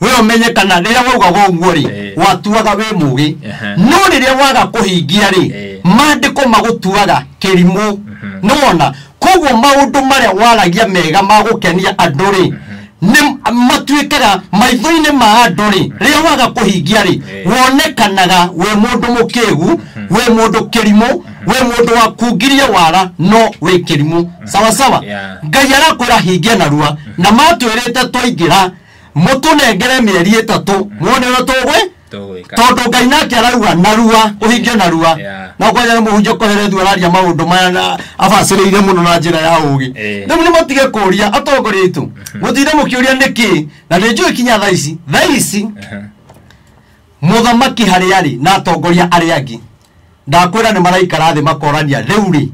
we ũmenye kana rĩrĩa waugaga ũguo rĩ Eh. watuaga wĩ mũgĩ Ehe. no rĩrĩa waga kũhingia rĩ Eh. maandĩko magũtuaga kĩrimũ nĩwona koguo maũndũ marĩa waragia mega ma gũkenia andũ rĩ nĩ matuĩkaga maitho-inĩ ma andũ rĩ rĩrĩa waga kũhingia rĩ Eh. wonekanaga wĩ mũndũ mũkĩgu wĩ mũndũ kĩrimũ wĩ mũndũ wakungirie wara no wĩ kĩrimũ sawasawa Yeah. ngai arakwĩra hingia narua na matwĩrĩte twaingĩra mũtũnengere mĩeri ĩtatũ mwone ũrĩa tũgwĩ tũgwĩka tondũ ngai nake arauga narua ũhinge narua Yeah. na kwaja mũhunjia ũkoherethu araria maũndũ maya na abacĩrĩire mũno na njĩra ya ũgĩ Eh. rĩu nĩ matige kũria atongoria aitũ mũtinde mũkĩũria nĩkĩ na nĩ njũĩ kinya thaa ici thaa ici Aha. mũthamaki harĩa arĩ na atongoria arĩa angĩ ndakwĩra nĩ maraikara thĩ makorania rĩu rĩ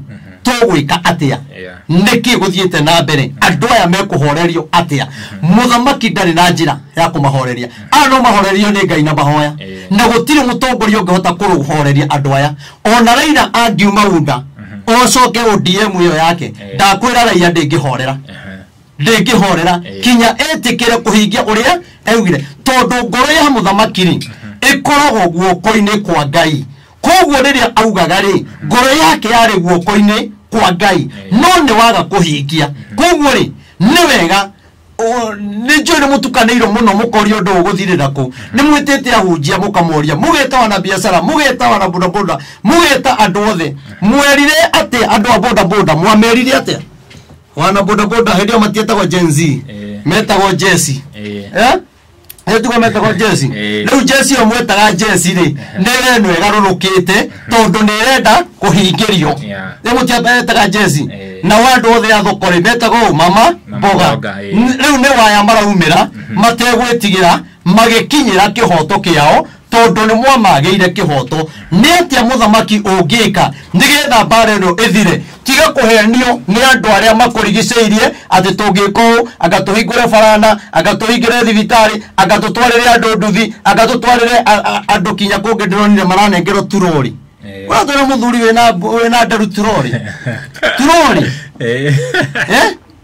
tũgwĩka atĩa Yeah. nĩkĩ gũthiĩte na mbere andũ aya mekũhorerio atĩa mũthamaki ndarĩ na njĩra ya kũmahoreria aya no mahorerio nĩ ngai na mahoya Yeah. na gũtirĩ mũtongoria ũngĩhota kũhoreria andũ aya ona raira angiuma unda ocoke odm ĩyo yake Yeah. ndakwĩra raia ndĩngĩhorera Aha. ndĩngĩhorera Eh. kinya etĩkĩre kũhingia ũrĩa augire tondũ ngoro ya mũthamaki-rĩ ĩkoragwo guoko-inĩ kwa ngai koguo rĩrĩa augaga-rĩ ngoro yake yarĩ guoko-inĩ kwa ngai no nĩ waga kũhingia koguo-rĩ nĩ wega o- nĩ njũĩ nĩ mũtukanĩirwo mũno mũkoria ũndũ ũgũthirĩra kũ nĩ mwĩtĩte ahunjia mũkamoria mũgeta wana biacara mũgeta wana bodaboda mũgeta andũ othe mwerire atĩa andũ a bodaboda mwamerire atĩa wana bodaboda hĩndĩ ĩyo matietagwo Gen Z Eh. metagwo jesi Eh. Eh? nĩ tugo metagwo jesi Eh. rĩu jesi ĩyo mwetaga jesi rĩ nĩ ĩrĩa ĩno ĩgarũrũkĩte tondũ nĩ ĩrenda kũhingĩrio Yeah. nĩ mũtietaga jesi Eh. na andũ othe a thoko rĩ metagwo ũ, mama Mama mboga mboga, eh. N- rĩu nĩ waya maraumĩra mategwĩtigĩra magĩkinyĩra kĩhoto kĩao tondũ nĩ mwamagĩire kĩhoto nĩ atĩa mũthamaki ũngĩka nĩgetha mbara ĩno ĩthire tiga kũhenio nĩ andũ arĩa makũrigicĩirie atĩ tũngĩka ũũ anga tũhingũre barana anga tũhingĩre thibitarĩ anga tũtwarĩre andũ nduthi anga tũtwarĩre a- a- andũ kinya kũngĩ ndĩronire maranengerwo turori ũratwĩra mũthuri wĩna wĩna nderu turori turori Eh?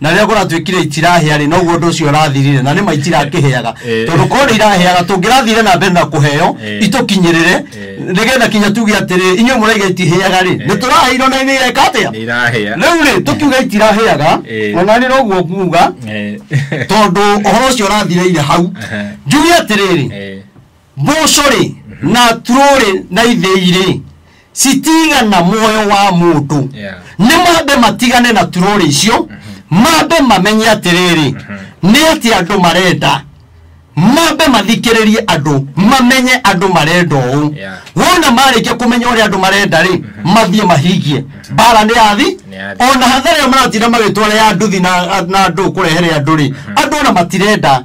na rĩrĩa kũratuĩkire itirahĩa-rĩ noguo ũndũ ũcio ũrathirire na nĩma itirakĩhĩaga Eh. tondũ korwo nĩ irahĩaga tũngĩrathire na mbere na kũheo Eh. itũkinyĩrĩre Eh. nĩgetha kinya tuge atĩrĩ inyuĩ mũraiga itihĩaga-rĩ nĩ tũraheirwo na nĩ ireka atĩa nĩ irahĩa rĩu-rĩ tũkiuga itirahĩaga Eh. ona nĩ noguo nguga Eh, tondũ ũhoro ũcio ũrathireire hau Aha. njuge atĩrĩrĩ eh, mboco-rĩ na turũ-rĩ na ithĩi-rĩ citigana muoyo wa mũndũ Yeah. nĩ mambe matigane na turũ-rĩ icio mambe mamenye atĩrĩrĩ nĩ atĩ andũ marenda mambe mathikĩrĩrie andũ mamenye andũ marenda ũũ Yeah. wona marĩkia kũmenya ũrĩa andũ marenda-rĩ mathiĩ mahingie mbara nĩ yathi Nĩ yathi. ona hathara ĩyo maratinda magĩtwara ya nduthi na na andũ kũrehere andũ-rĩ andũ ona matirenda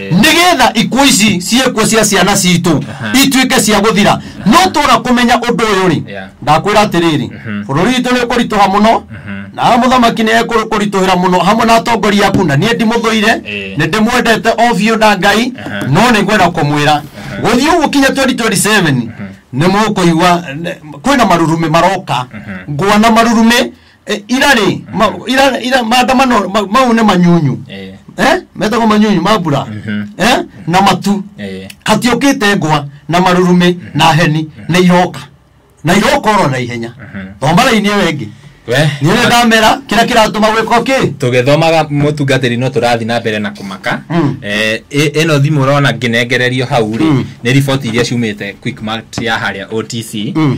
nigetha ikuo ici ciĩkuo cia ciana citũ ituĩke cia gũthira no tũra kũmenya ũndũ ũyũ rĩ Yeah. ndakwĩra atĩrĩrĩ bũrũri witũ nĩ ũkũritũha mũno na haha mũthamaki nĩ ekũritũhĩra mũno hamwe na atongoria aku na niĩ ndimũthũire Eh. nĩ ndĩmwendete o biũ na ngai no nĩ ngwenda kũmwĩra gũthiĩ ũguo kinya 2027 nĩ mũkũigua nĩ- kwĩna marurumĩ maroka ngwana marurumĩ Eh, ira rĩ ma- ira ira maandamano ma- mau nĩ manyunyu Eh, eh metagwo manyunyu ma mbura Mhm. eh na matu eh, katiũkĩte ngwa na marurumĩ na heni nĩ iroka na iroka oro na ihenya thomara-inĩ ĩyo ĩngĩ we niĩ nĩ ndamera kĩrĩa kĩratũma gwĩka kĩ tũgĩthomaga mũtungatĩri no tũrathiĩ na mbere na kũmaka Mm. Eh, ĩ- ĩno thimũ ũrona ngĩnengererio hau rĩ Mm. nĩ riboti iria ciumĩte quickmart ya harĩa otc Mm.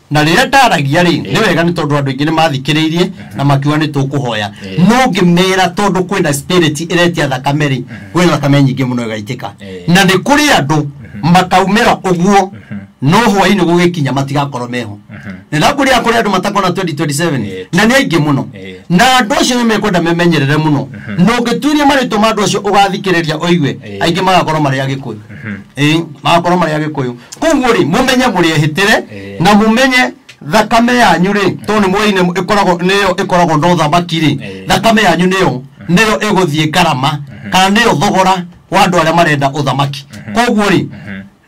na rĩrĩa ndaragia rĩ nĩ wega nĩ tondũ andũ aingĩ nĩ mathikĩrĩirie na makiuga nĩ tũkũhoya Eh. no ngĩmera tondũ kwĩna spirit ĩretia thakame rĩ kwĩ thakame nyingĩ mũno ĩgaitĩka Eh. na nĩ kũrĩ andũ makaumĩra ũguo no hwainĩ gũgĩkinya matigakorwo meho nĩ ndakũria kũrĩ andũ matakona 2027 Eh. na nĩ aingĩ mũno Eh. na andũ acio nĩ mekwenda memenyerere mũno na ũngĩtuiria marĩtwa ma andũ acio ũgathikĩrĩria ũigue Eh. aingĩ magakorwo marĩ agĩkũyũ Ĩĩ, magakoro marĩ agĩkũyũ koguo rĩ mũmenye mũrĩ ehĩtĩre Ĩĩ. na mũmenye thakame yanyu rĩ tondũ nĩ mwoine ĩkoragwo nĩyo ĩkoragwo na ũthamaki rĩ Ĩĩ. thakame yanyu nĩyo nĩyo ĩgũthiĩ ngarama kana nĩyo thogora wa andũ arĩa marenda ũthamaki koguo rĩ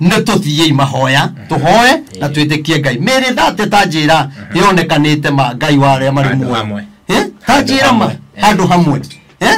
nĩ tũthiĩi mahoya tũhoe na twĩtĩkie ngai mĩrĩ thate ta njĩra yonekanĩte ma ngai wa arĩa marĩ Handũ muoyo hamwe. Eh, ta njĩra ma Handũ hamwe. handũ hamwe Eh?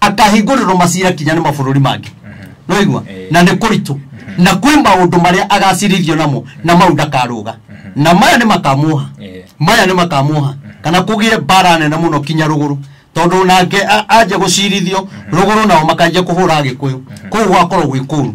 akahingũrĩrwo macira kinya nĩ mabũrũri mangĩ noigua Eh. na nĩ kũritũ na kwĩ maũndũ marĩa agacirithio namo na mau ndakarũga na maya nĩ makamuoha Eh. maya nĩ makamuoha kana kũgĩe mbara nene mũno kinya rũgũrũ tondũ nake a- anja gũcirithio rũgũrũ nao makanjia kũhũra agĩkũyũ kũu gwakorwo gwĩ kũru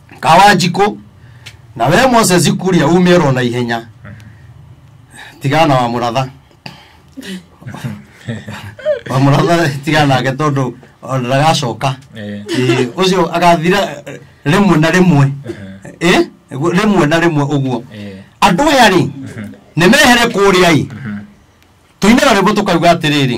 kawanjikũ na we moses kũrĩa umĩrwo na ihenya tigana wa mũratha wa mũratha tigana nake tondũ ona ndagacoka Eh. Ĩĩ, ũcio agathira eh, rĩmwe na rĩmwe Ĩ, guo- rĩmwe na rĩmwe ũguo Eh. andũ aya rĩ nĩ mehere kũrĩa ĩ tũinaga rĩmbo tũkauga atĩrĩrĩ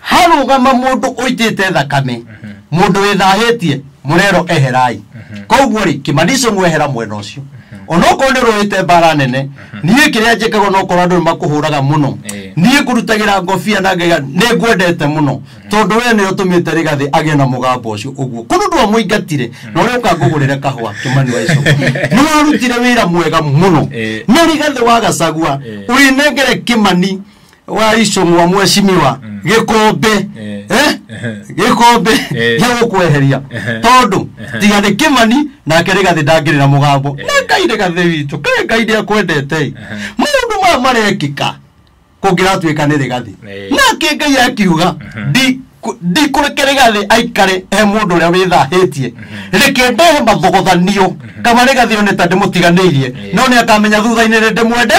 harũgama mũndũ ũitĩte thakame mũndũ wĩthahĩtie mũrero eherai koguo rĩ kĩmanico mwehera mwena ũcio onokorwo nĩ rũĩte mbara nene niĩ kĩrĩa njĩkaga onokorwo andũ nĩ makũhũraga mũno Eh. niĩ ngũrutagĩra ngobia na ngaiga nĩ ngwendete mũno tondũ wee nĩ ũtũmĩte rĩgathĩ agĩe na mũgambo ũcio ũguo kũndũ ndwa mũingatire na ũrĩa ũka ngũgũrĩre kahũa kĩmani wa icoka nĩ warutire wĩra mwega mũno Eh. no rĩgathĩ wagacagua Eh. ũrĩnengere kĩmani waicũng'wa mwecimiwa gĩkũmbĩ Eh. Eh? Ehe. gĩkũmbĩ Eh. gĩa gũkweheria Ehe. tondũ Ehe. tiga nĩ kĩmani nake nĩ gathĩ ndangĩrĩra mũgambo Eh. nĩ ngai nĩ gathĩ witũ kaĩ ngai nĩ akwendete maũndũ maya marekĩka kũngĩratuĩka nĩ rĩgathĩ Eh. nake ngai akiuga "Ndi- kũ- ndikũreke rĩgathĩ aikare e mũndũ ũrĩa wĩthahĩtie reke ndehe mathogothanio kama rĩgathĩ one ta ndĩmũtiganĩirie Eh. no nĩ akamenya thutha-inĩ nĩ ndĩmwende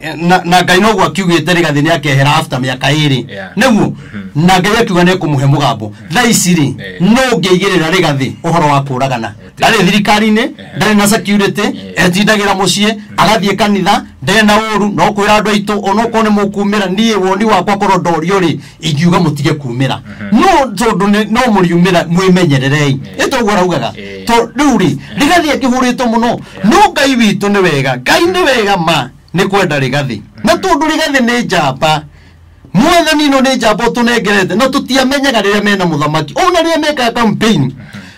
Eh, na na ngai noguo akiugĩte rĩgathĩ nĩ akehera after mĩaka ĩrĩ Yeah. nĩguo na ngai akiuga nĩ kũmũhe mũgambo thaa ici rĩ Eh. no ngĩigĩrĩra rĩgathĩ ũhoro wa kũũragana Eti. ndarĩ thirikari-inĩ ndarĩ na security Eh. etindagĩra mũciĩ agathiĩ kanitha ndarĩ na ũru no kwĩra andũ aitũ onokorwo nĩ mũkumĩra niĩ woni wakwa korwo ndorio rĩ ingiuga mutige kumira no tondu ni- no muriumira mwimenyererei Eh. itoguo araugaga Eh. to riu ri rigathi akihuritwo muno no ngai witũ nĩ wega ngai nĩ wega ma nĩ kwenda rigathi na tondu rigathi nĩ njamba mwathani no nĩ njamba ũtũnengerete na tũtiamenyaga rĩrĩa mena mũthamaki ona rĩrĩa mekaga campaign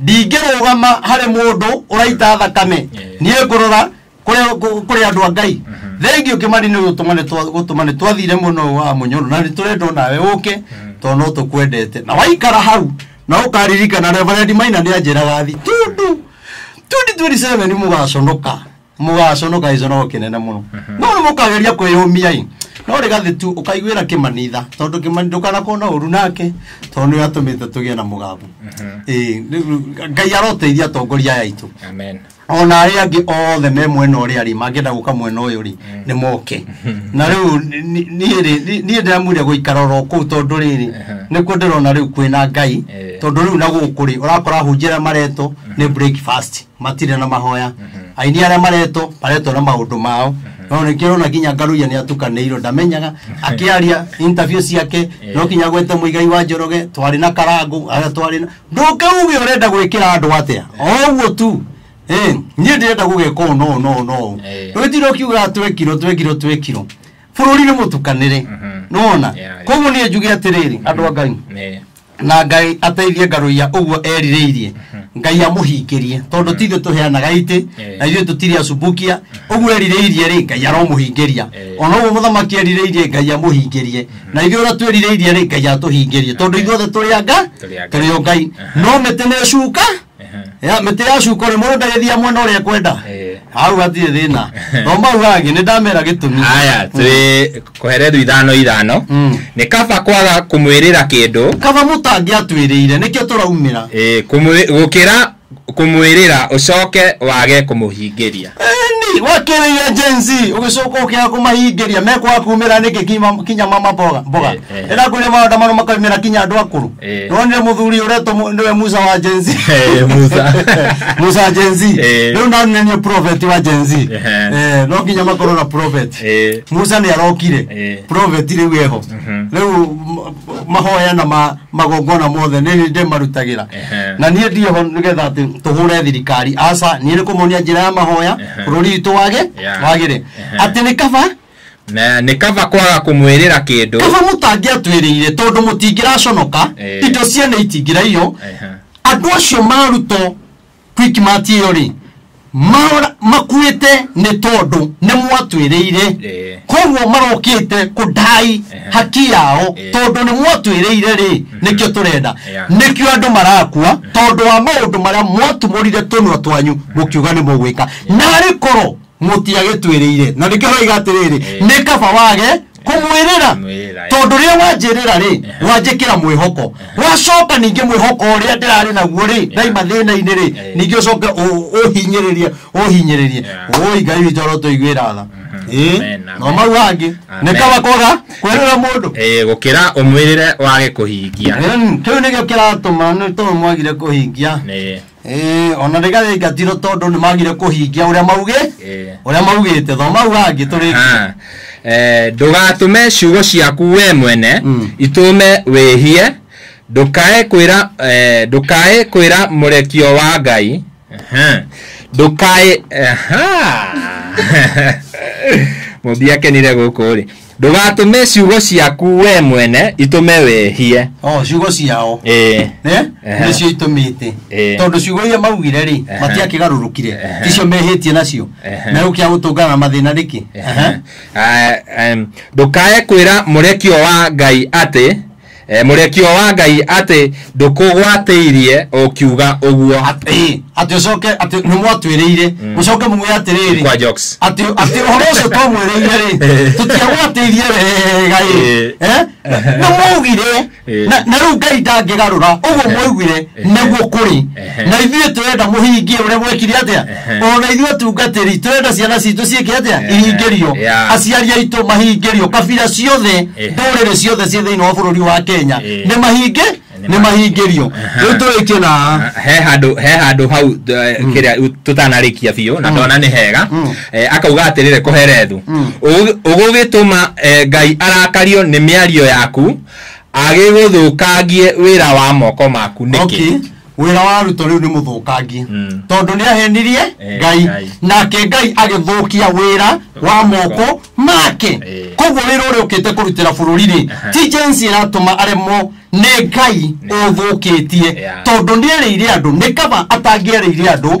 ndingĩrũgama harĩ mũndũ ũraita thakame niĩ ngũrora kũrĩ- kũ- kũrĩ andũ a ngai thengiũ kĩmani nĩ gũtũma nĩ twa- gũtũma nĩ twathire mũno wa mũnyoro na nĩ tũrenda o nawe ũke tondũ no tũkwendete na waikara hau na ũkaririkana reverendi maina nĩ anjĩraga thi tundu 2027 mũgaconoka mũgaconoka gĩconoko kĩnene mũno no nĩ mũkageria kwĩyũmia-ĩ no rĩ gathĩ tu ũkaiguĩra kĩmanitha tondũ kĩmanitha ndũkanakorwo na ũru nake tondũ nĩwe atũmĩte tũgĩe na mũgambo Ĩĩ, nĩ- ngai aroteithia atongoria aya aitũ amen ona arĩa angĩ othe me mwena ũrĩa rĩ mangĩenda gũka mwena ũyũ rĩ nĩ moke na rĩu ni- ni- niĩ rĩ ni- niĩ ndĩramwire gũikara oro kũu tondũ rĩrĩ nĩkuo ndĩrona rĩu kwĩna ngai Eh. tondũ rĩu na gũkũ rĩ ũrakora hunjĩra mareto nĩ breakfast matirĩ na mahoya aini arĩa mareto mareto na maũndũ mao no nĩkĩo ũrona nginya ngaruia nĩ atukanĩirwo ndamenyaga akĩaria interview ciake no nginya gwete mũigai wa njoroge twarĩ na karangũ arĩa twarĩ na ndũkĩuge ũrenda gwĩkĩra andũ atĩa o ũguo tu Eh, niĩ ndĩrenda gũgeka ũũ no ũũ, no ũũ, no ũũ. Eh. ndũgĩtira ũkiugaga twekirwo twekirwo twekirwo bũrũri nĩ mũtukanĩre nona Yeah. koguo niĩ njuge atĩrĩrĩ andũ a ngai Nĩ. na ngai ateithie ngarũia ũguo erirĩirie ngai amũhingĩrie tondũ ti ithuĩ tũheanaga itĩ Eh. na ithuĩ tũtirĩ acumbukia ũguo erirĩirie rĩ ngai aromũhingĩria Eh. ona ũguo mũthamaki erirĩirie ngai amũhingĩrie na ithuĩ ũrĩa twĩrirĩirie rĩ ngai atũhingĩrie tondũ ithuothe tũrĩ anga Tũrĩ a Ngai. tũrĩ o ngai Aha. no mĩtĩ nĩ cuka Ehe. ya mĩtĩ ya cukore mũndũ ndagĩthia mwena ũrĩa ekwenda Eh. hau hatirĩ thĩna no mau hangĩ nĩ ndamera gĩtũmi haya twĩ koherethu ithano ithano Mm. nĩ kaba kwaga kũmwĩrĩra kĩndũ kaba mũtangĩatwĩrĩire nĩkĩo tũraumĩra eh, kũmwĩ- gũkĩra kũmwĩrĩra ũcoke wage kũmũhingĩria ni wakĩrĩire jenzi ũgĩcoka ũkĩaga kũmahingĩria mekwaga kumĩra nĩkĩ kinya- kinya mama mboga mboga Eh. Eh. ndĩrakwĩre maũndũ mano makaumĩra kinya andũ akũrũ Eh. nonire mũthuri ũretwo mu- nĩwe musa wa jenzi Eh, Musa. musa wa jenzi Eh. rĩu nanenio prophet wa jenzi Ehe. no nginya makorwo na prophet Eh. musa nĩ arokire Eh. prophet rĩu eho Mhm. rĩu m- mahoya na ma- magongona mothe nĩ hĩndĩ marutagĩra Ehe. na niĩ ndiho nĩgetha atĩ tũhũre thirikari aca niĩ nĩ kũmonia njĩra ya mahoya Ehe. bũrũri witũ wage Yeah. wagĩre Ehe. atĩ nĩ kaba Na nĩ kaba kwaga kũmwĩrĩra kĩndũ kaba mũtangĩatwĩrĩire tondũ mũtingĩraconoka Eh. indo ciene itingĩraiywo Ehe. andũ acio marutwo kwikimati ĩyo rĩ mara- makuĩte nĩ tondũ nĩ mwatwĩrĩire Eh. koguo marokĩte kũndai Ehe. haki yao Eh. tondũ nĩ mwatwĩrĩire rĩ nĩkĩo tũrenda Yeah. nĩkĩo andũ marakua tondũ wa maũndũ marĩa mwatumũrire tũnua twanyu mũkiuga nĩ mũgwĩka narĩ korwo mũtiagĩtwĩrĩire na nĩkĩo haiga atĩrĩrĩ Eh. nĩ kaba wage kũmwĩrĩra Kũmwĩrĩra, eh. tondũ rĩrĩa wanjĩrĩra rĩ wanjĩkĩra mwĩhoko wacoka ningĩ mwĩhoko ũrĩa ndĩrarĩ naguo rĩ ndaima thĩna-inĩ rĩ Eh. ningĩ ũcoke ũ- ũhinyĩrĩrie ũhinyĩrĩrie Yeah. ũi ngai witũ arotũiguĩra tha Ĩĩ, Amen, amen. no mau hangĩ nĩ Amen. kaba kwaga kwĩrĩra mũndũ Eh, gũkĩra ũmwĩrĩre wage kũhingia Em, kĩu nĩkĩo kĩratũma nĩ tondũ mwagire kũhingia Nĩ- Eh, ona rä gaingatiro tondå nä magire kå hingia å rä a maugä Eh. å rä a maugä te thomau hangä tå rä Ah, eh, ndũgatũme ciugo ciaku we mwene Mm. itũme wĩhie ndũkae kwĩra eh, ndũkae kwĩra mũrekio wa ngai Aha. ndũkae aha. mũmbi akenire gũkũ rĩ ndũgatũme ciugo ciaku we mwene itũme wehie o ciugo ciao ĩĩ Eh? Ehe. nĩcio itũmĩte Eh. tondũ ciugo iria maugire rĩ Ehe. matiakĩgarũrũkire Ehe. ticio mehĩtie nacio Ehe. na gũkĩa gũtũngana na mathĩna rĩkĩ Ehe. Ah, em, ndũkae kwĩra mũrekio wa ngai atĩ Eh, mũrekio wa ngai atĩ ndũkũgwatĩirie ũkiuga ũguo Ĩ, atĩ ũcoke atĩ nĩ mwatwĩrĩire mũcoke muge atĩrĩrĩ Kwa jokes. atĩ atĩ ũhoro ũcio twamwĩrĩire rĩ tũtiagwatĩirie wega ĩ Ĩ. Eh? Na- nĩ mwaugire Ĩ. na na rĩu ngai ndangĩgarũra ũguo mwaugire nĩguo kũrĩ Ehe. na ithuĩ tũrenda mũhingie ũrĩa gwekire atĩa Ehe. ona ithuĩ tungatĩri tũrenda ciana citũ ciĩke atĩa Ehe. ihingĩrio Yeah. aciari aitũ mahingĩrio kabira ciothe Ehe. ndũrĩrĩ ciothe ciĩ thĩinĩ wa bũrũri wa kenya Eh. nĩ mahinge Nĩ nĩ mahingĩrio Aha. rĩu tũrĩkie na he handå he handå hau kä rä a tå tanarĩkia biå na ndona nä hega Eh, akauga atä rä rä kå herethu å gå gä tå ma ngai arakario nä mä ario yaku agĩgũthũkangie wĩra wa moko maku okay nĩkĩ wĩra wa ruto rĩu nĩ mũthũkangie Mm. tondũ nĩ ahenirie Eh, ngai Ngai. nake ngai agĩthũkia wĩra wa moko make Eh. koguo wĩra ũrĩa ũkĩte kũrutĩra bũrũri rĩ Aha. ti jensi ĩratũma aremwo nĩ ngai ũthũkĩtie Yeah. tondũ nĩerĩire andũ nĩ kaba atangĩerĩire andũ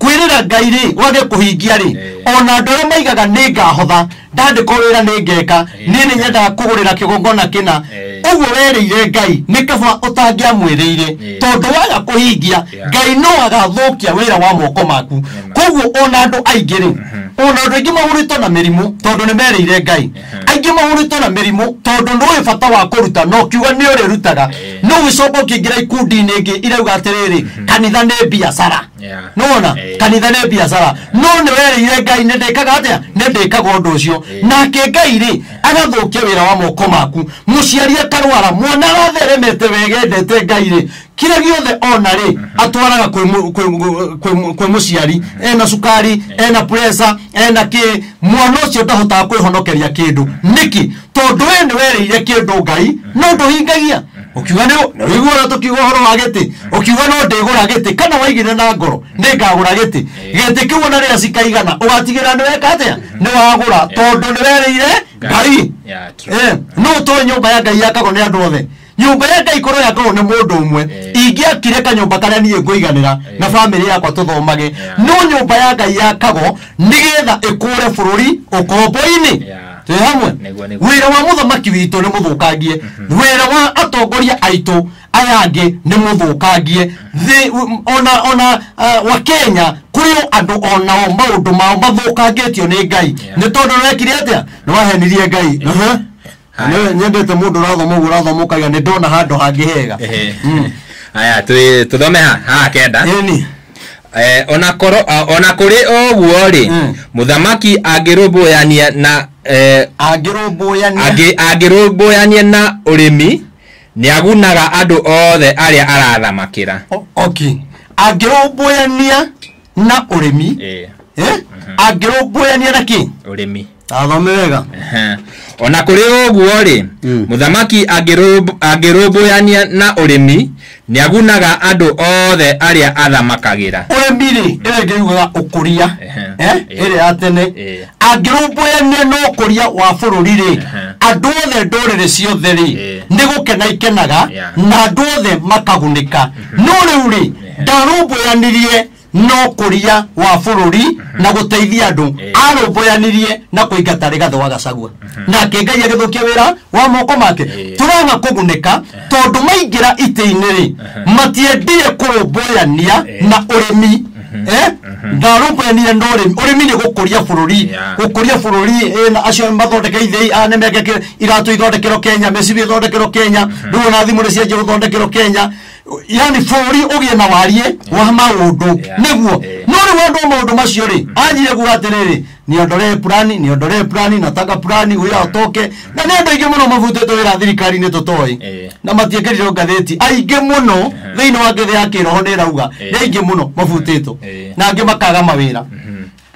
kwĩrĩra ngai rĩ wage kũhingia rĩ Eh. ona andũ arĩa maigaga nĩ ngahotha ndandĩkwo wĩra nĩ ngeka Eh. nĩ nĩ nyendaga kũgũrĩra kĩgongona kĩna Eh. ũguo werĩire ngai nĩ kaba ũtangĩamwĩrĩire Eh. tondũ waga kũhingia Yeah. ngai no agathũkia wĩra wa moko maku Amen. koguo ona andũ aingĩ rĩ ona andũ aingĩ mahũrĩtwo na mĩrimũ tondũ nĩ merĩire ngai aingĩ mahũrĩtwo na mĩrimũ tondũ ndũĩ bata wa kũruta na ũkiuga nĩ ũrĩrutaga Eh. no ũgĩcoka ũkĩingĩra ikundi-inĩ ĩngĩ irauga atĩrĩrĩ kanitha nĩ biacara Yeah. nona Eh. kanitha nĩ biacara no nĩ werĩire ngai nĩ ndĩkaga atĩa nĩ ndĩkaga ũndũ ũcio nake ngai rĩ agathũkia wĩra wa moko maku mũciari akarwara mwana aratheremete wegendete ngai rĩ kĩrĩa gĩothe ona-rĩ atwaraga kwĩ mũ- kwĩ- kwĩ- kwĩ- kwĩ mũciari ena cukari ena presa ena kĩ mwana ũcio ndahotaga kwĩhonokeria kĩndũ nĩkĩ tondũ we nĩ werĩire kĩndũ ngai no ndũhingagia ũkiuga nĩ ũigua ũrĩa tũkiuga ũhoro wa gĩtĩ ũkiuga no ndĩgũra gĩtĩ kana waigire na ngoro nĩ ngagũra gĩtĩ gĩtĩ kĩu ona rĩrĩa cikaigana ũgatigĩra nĩ weka atĩa nĩ wagũra tondũ nĩ werĩire ngai Yeah, true. Eh, no ũtoe nyũmba ya ngai yakagwo nĩ andũ othe nyũmba ya ngai korwo yakagwo nĩ mũndũ ũmwe Eh. ingĩakire kanyũmba karĩa niĩ ngũiganĩra Eh. na bamĩrĩ yakwa tũthomage Yeah. no nyũmba ya ngai yakagwo nĩgetha ĩkũre bũrũri ũkombo-inĩ Yeah. twĩ hamwe Nĩguo, nĩguo. wĩra wa mũthamaki witũ nĩ mũthũkangie wĩra wa atongoria aitũ aya angĩ nĩ mũthũkangie Thĩ- u- ona ona ah, wa kenya kũrĩ o andũ onao maũndũ mao mathũkangĩtio nĩ ngai Yeah. nĩ tondũ nĩwekire atĩa nĩwahenirie ngai Aha. Nĩ- nyendete mũndũ ũrathoma ũguo ũrathoma ũkaiga nĩ ndona handũ hangĩ hega Ehe. haya tũ- tũthome ha ha kenda ĩni Eh, ona korwo ah, ona kũrĩ ũguo rĩ Mm. mũthamaki angĩrũmbũyania na eh, angĩrũmbũyania angĩ- angĩrũmbũyania na ũrĩmi nĩagunaga andũ othe arĩa arathamakĩra O- oki angĩrũmbũyania na ũrĩmi Eh, eh, angĩrũmbũyania na kĩ ũrĩmi athome wega Aha. ona kũrĩ ũguo rĩ Mm. mũthamaki angĩrũmb- angĩrũmbũyania na ũrĩmi nĩagunaga andũ othe arĩa athamakagĩra ũrĩmi rĩ ĩrĩa ngĩugaga ũkũria Ehe. eh, Eh. ĩrĩa ya tene Eh. angĩrũmbũyania na ũkũria wa bũrũri rĩ Ehe. andũ othe ndũrĩrĩ ciothe rĩ Eh. nĩ gũkena ikenaga Yeah. na andũ othe makagunĩka no rĩu rĩ ndarũmbũyanirie na ũkũria wa bũrũri na gũteithia andũ Eh. arũmbũyanirie na kũingata rĩgathĩ wa gacagua nake ngai agĩthũkia wĩra wa moko make Eh. tũraga kũgunĩka tondũ maingĩra itĩ-inĩ-rĩ matiendire kũrũmbũyania Eh. na ũrĩmi Eh? ndarũmbũyanirie na ũrĩmi ũrĩmi nĩ gũkũria bũrũri Yeah. gũkũria bũrũri eh, na acio mathondeke ithei a nĩmeke iratũ ithondekero kenya mĩcibi ithondekero kenya rĩu ona thimũ nĩ cianjia gũthondekero kenya yani bũrũri ũgĩe na wariĩ wa maũndũ Yeah. nĩguo Eh. no rĩu andũ a maũndũ macio rĩ anjire kuga atĩrĩrĩ niondolee purani niondolee purani nataka purani huyo atoke na nĩ andũ aingĩ mũno mabutĩtwo wĩra thirikari-inĩ tũtoĩ Eh. na matiĩkĩrirwo ngathĩti aingĩ mũno thĩinĩ wa ngĩthĩ ya kĩroho nĩ ĩrauga nĩ Eh. aingĩ mũno mabutĩtwo Eh. na angĩ makaga mawĩra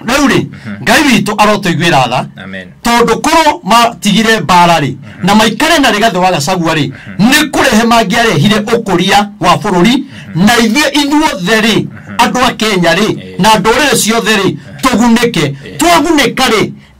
na rĩu rĩ ngai witũ arotũiguĩra tha Amen. tondũ korwo matigire mbara rĩ na maikare na rĩgathĩ wa gacagua rĩ nĩ kũrehe mangĩarehire ũkũria wa bũrũri na ithuĩ inyuothe rĩ andũ a kenya rĩ na ndũrĩrĩ ciothe rĩ tũgunĩke twagunĩka rĩ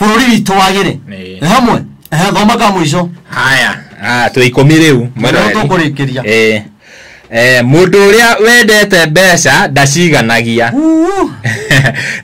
bũrũri witũ wagĩre Ĩĩ. Nĩ hamwe Ehe, thoma ka mũico haya ah, twĩ ikũmi rĩu Mwena Rĩu ũrĩa- tũkũrĩkĩria. Eh, eh, mũndũ ũrĩa wendete mbeca ndaciganagia Uu.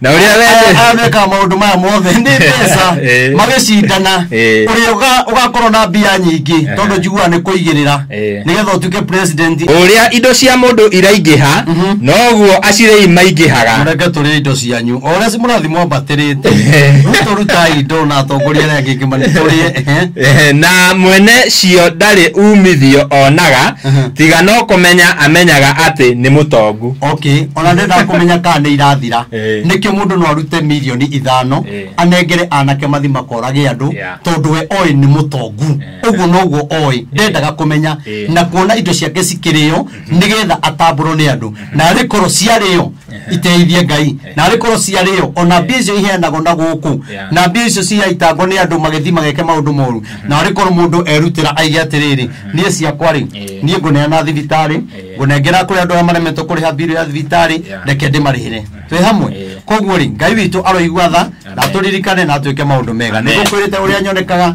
na ũrĩa wendete atheka maũndũ maya mothe nĩ mbeca Ĩĩ. magĩcindana Ĩĩ. ũrĩa ũga- ũgakorwo na mbia nyingĩ tondũ njiguaga nĩ kũigĩrĩra Eh. nigetha utuike president ũrĩa indo cia mũndũ iraingĩha noguo acirĩi maingĩhaga mureke tũrĩa indo cianyu o ũrĩa mũrathiĩ mwambatĩrĩte rĩu tũrutaga indo na atongoria arĩa angĩ ngĩmani tũrĩe ehe. Eh, na mwene cio ndarĩ umithio onaga Mhm. tiga no kũmenya amenyaga atĩ nĩ mũtongu okay ona ndendaga kũmenya kana nĩ irathira Eh. nĩkĩ mũndũ no arute mirioni ithano Eh. anengere anake mathi makorage andũ Yeah. tondũ we oĩ nĩ mũtongu ũguo noguo oĩ ndendaga kũmenya Eh. na kuona indo ciake cikĩrĩo nĩgetha atambũrwo nĩ andũ na arĩ korwo ciarĩo iteithie ngai na arĩ korwo ciarĩo ona mbia icio iheanagwo na gũkũ Yeah. na mbia icio ciaitangwo nĩ andũ magĩthi mageke maũndũ moru na arĩ korwo mũndũ erutĩra aige atĩrĩrĩ niĩ ciakwa rĩ Eh. niĩ ngũneana thibitarĩ Eh. ngũnengera kũrĩ andũ arĩa maremetwo kũrĩha mbirũ ya thibitarĩ Yeah. reke ndĩmarĩhĩre twĩ hamwe Eh. koguo rĩ ngai witũ aroigua tha na Amen. tũririkane na twĩke maũndũ mega Amen. nĩgũkwĩrĩte ũrĩa nyonekaga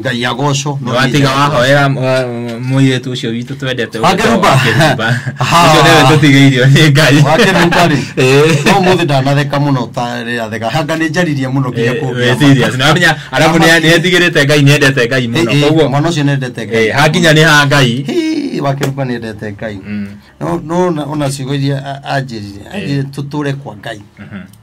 ngai agoco no watiga wahoera mũirĩtu ũcio witũ twendete Wakeruba. Ha. ũcio nĩwe tũtigĩirio nĩ ngai wakeruba rĩ Eh. no må thä ndanatheka må no tarä atheka hanga nä njaririe må no nginya kå Eh, serious. Na wamenya arabu nĩ- nĩetigĩrĩte ngai nĩendete ngai mũno koguo mwana å cio nendete eh, ngai hakinya nĩ ha ngai Hii, wakeruba nendete ngai Mm. no no ona- ona ciugo iria anjä rire anjä rire tå tå re kwa ngai Mhm.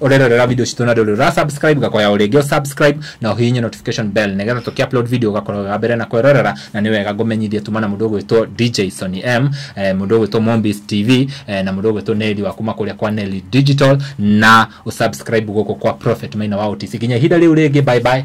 ũrerorera video citũ na ndũrĩ ũra subscribe gakoya o rĩngĩ subscribe na ũhihinye notification bell nĩgetha tũkĩ upload video ũgakorwo ga mbere na kwerorera na nĩ wega ngũmenyithie tuma na mũndũ ũgwĩtwo DJ Sony M eh, mũndũ ũgwĩtwo Mombis TV eh, na mũndũ ũgwĩtwo Nelly wa kuma kũrĩa kwa Nelly Digital na ũsubscribe gũkũ kwa Prophet Maina wa OTC nginya ihinda rĩu rĩngĩ bye bye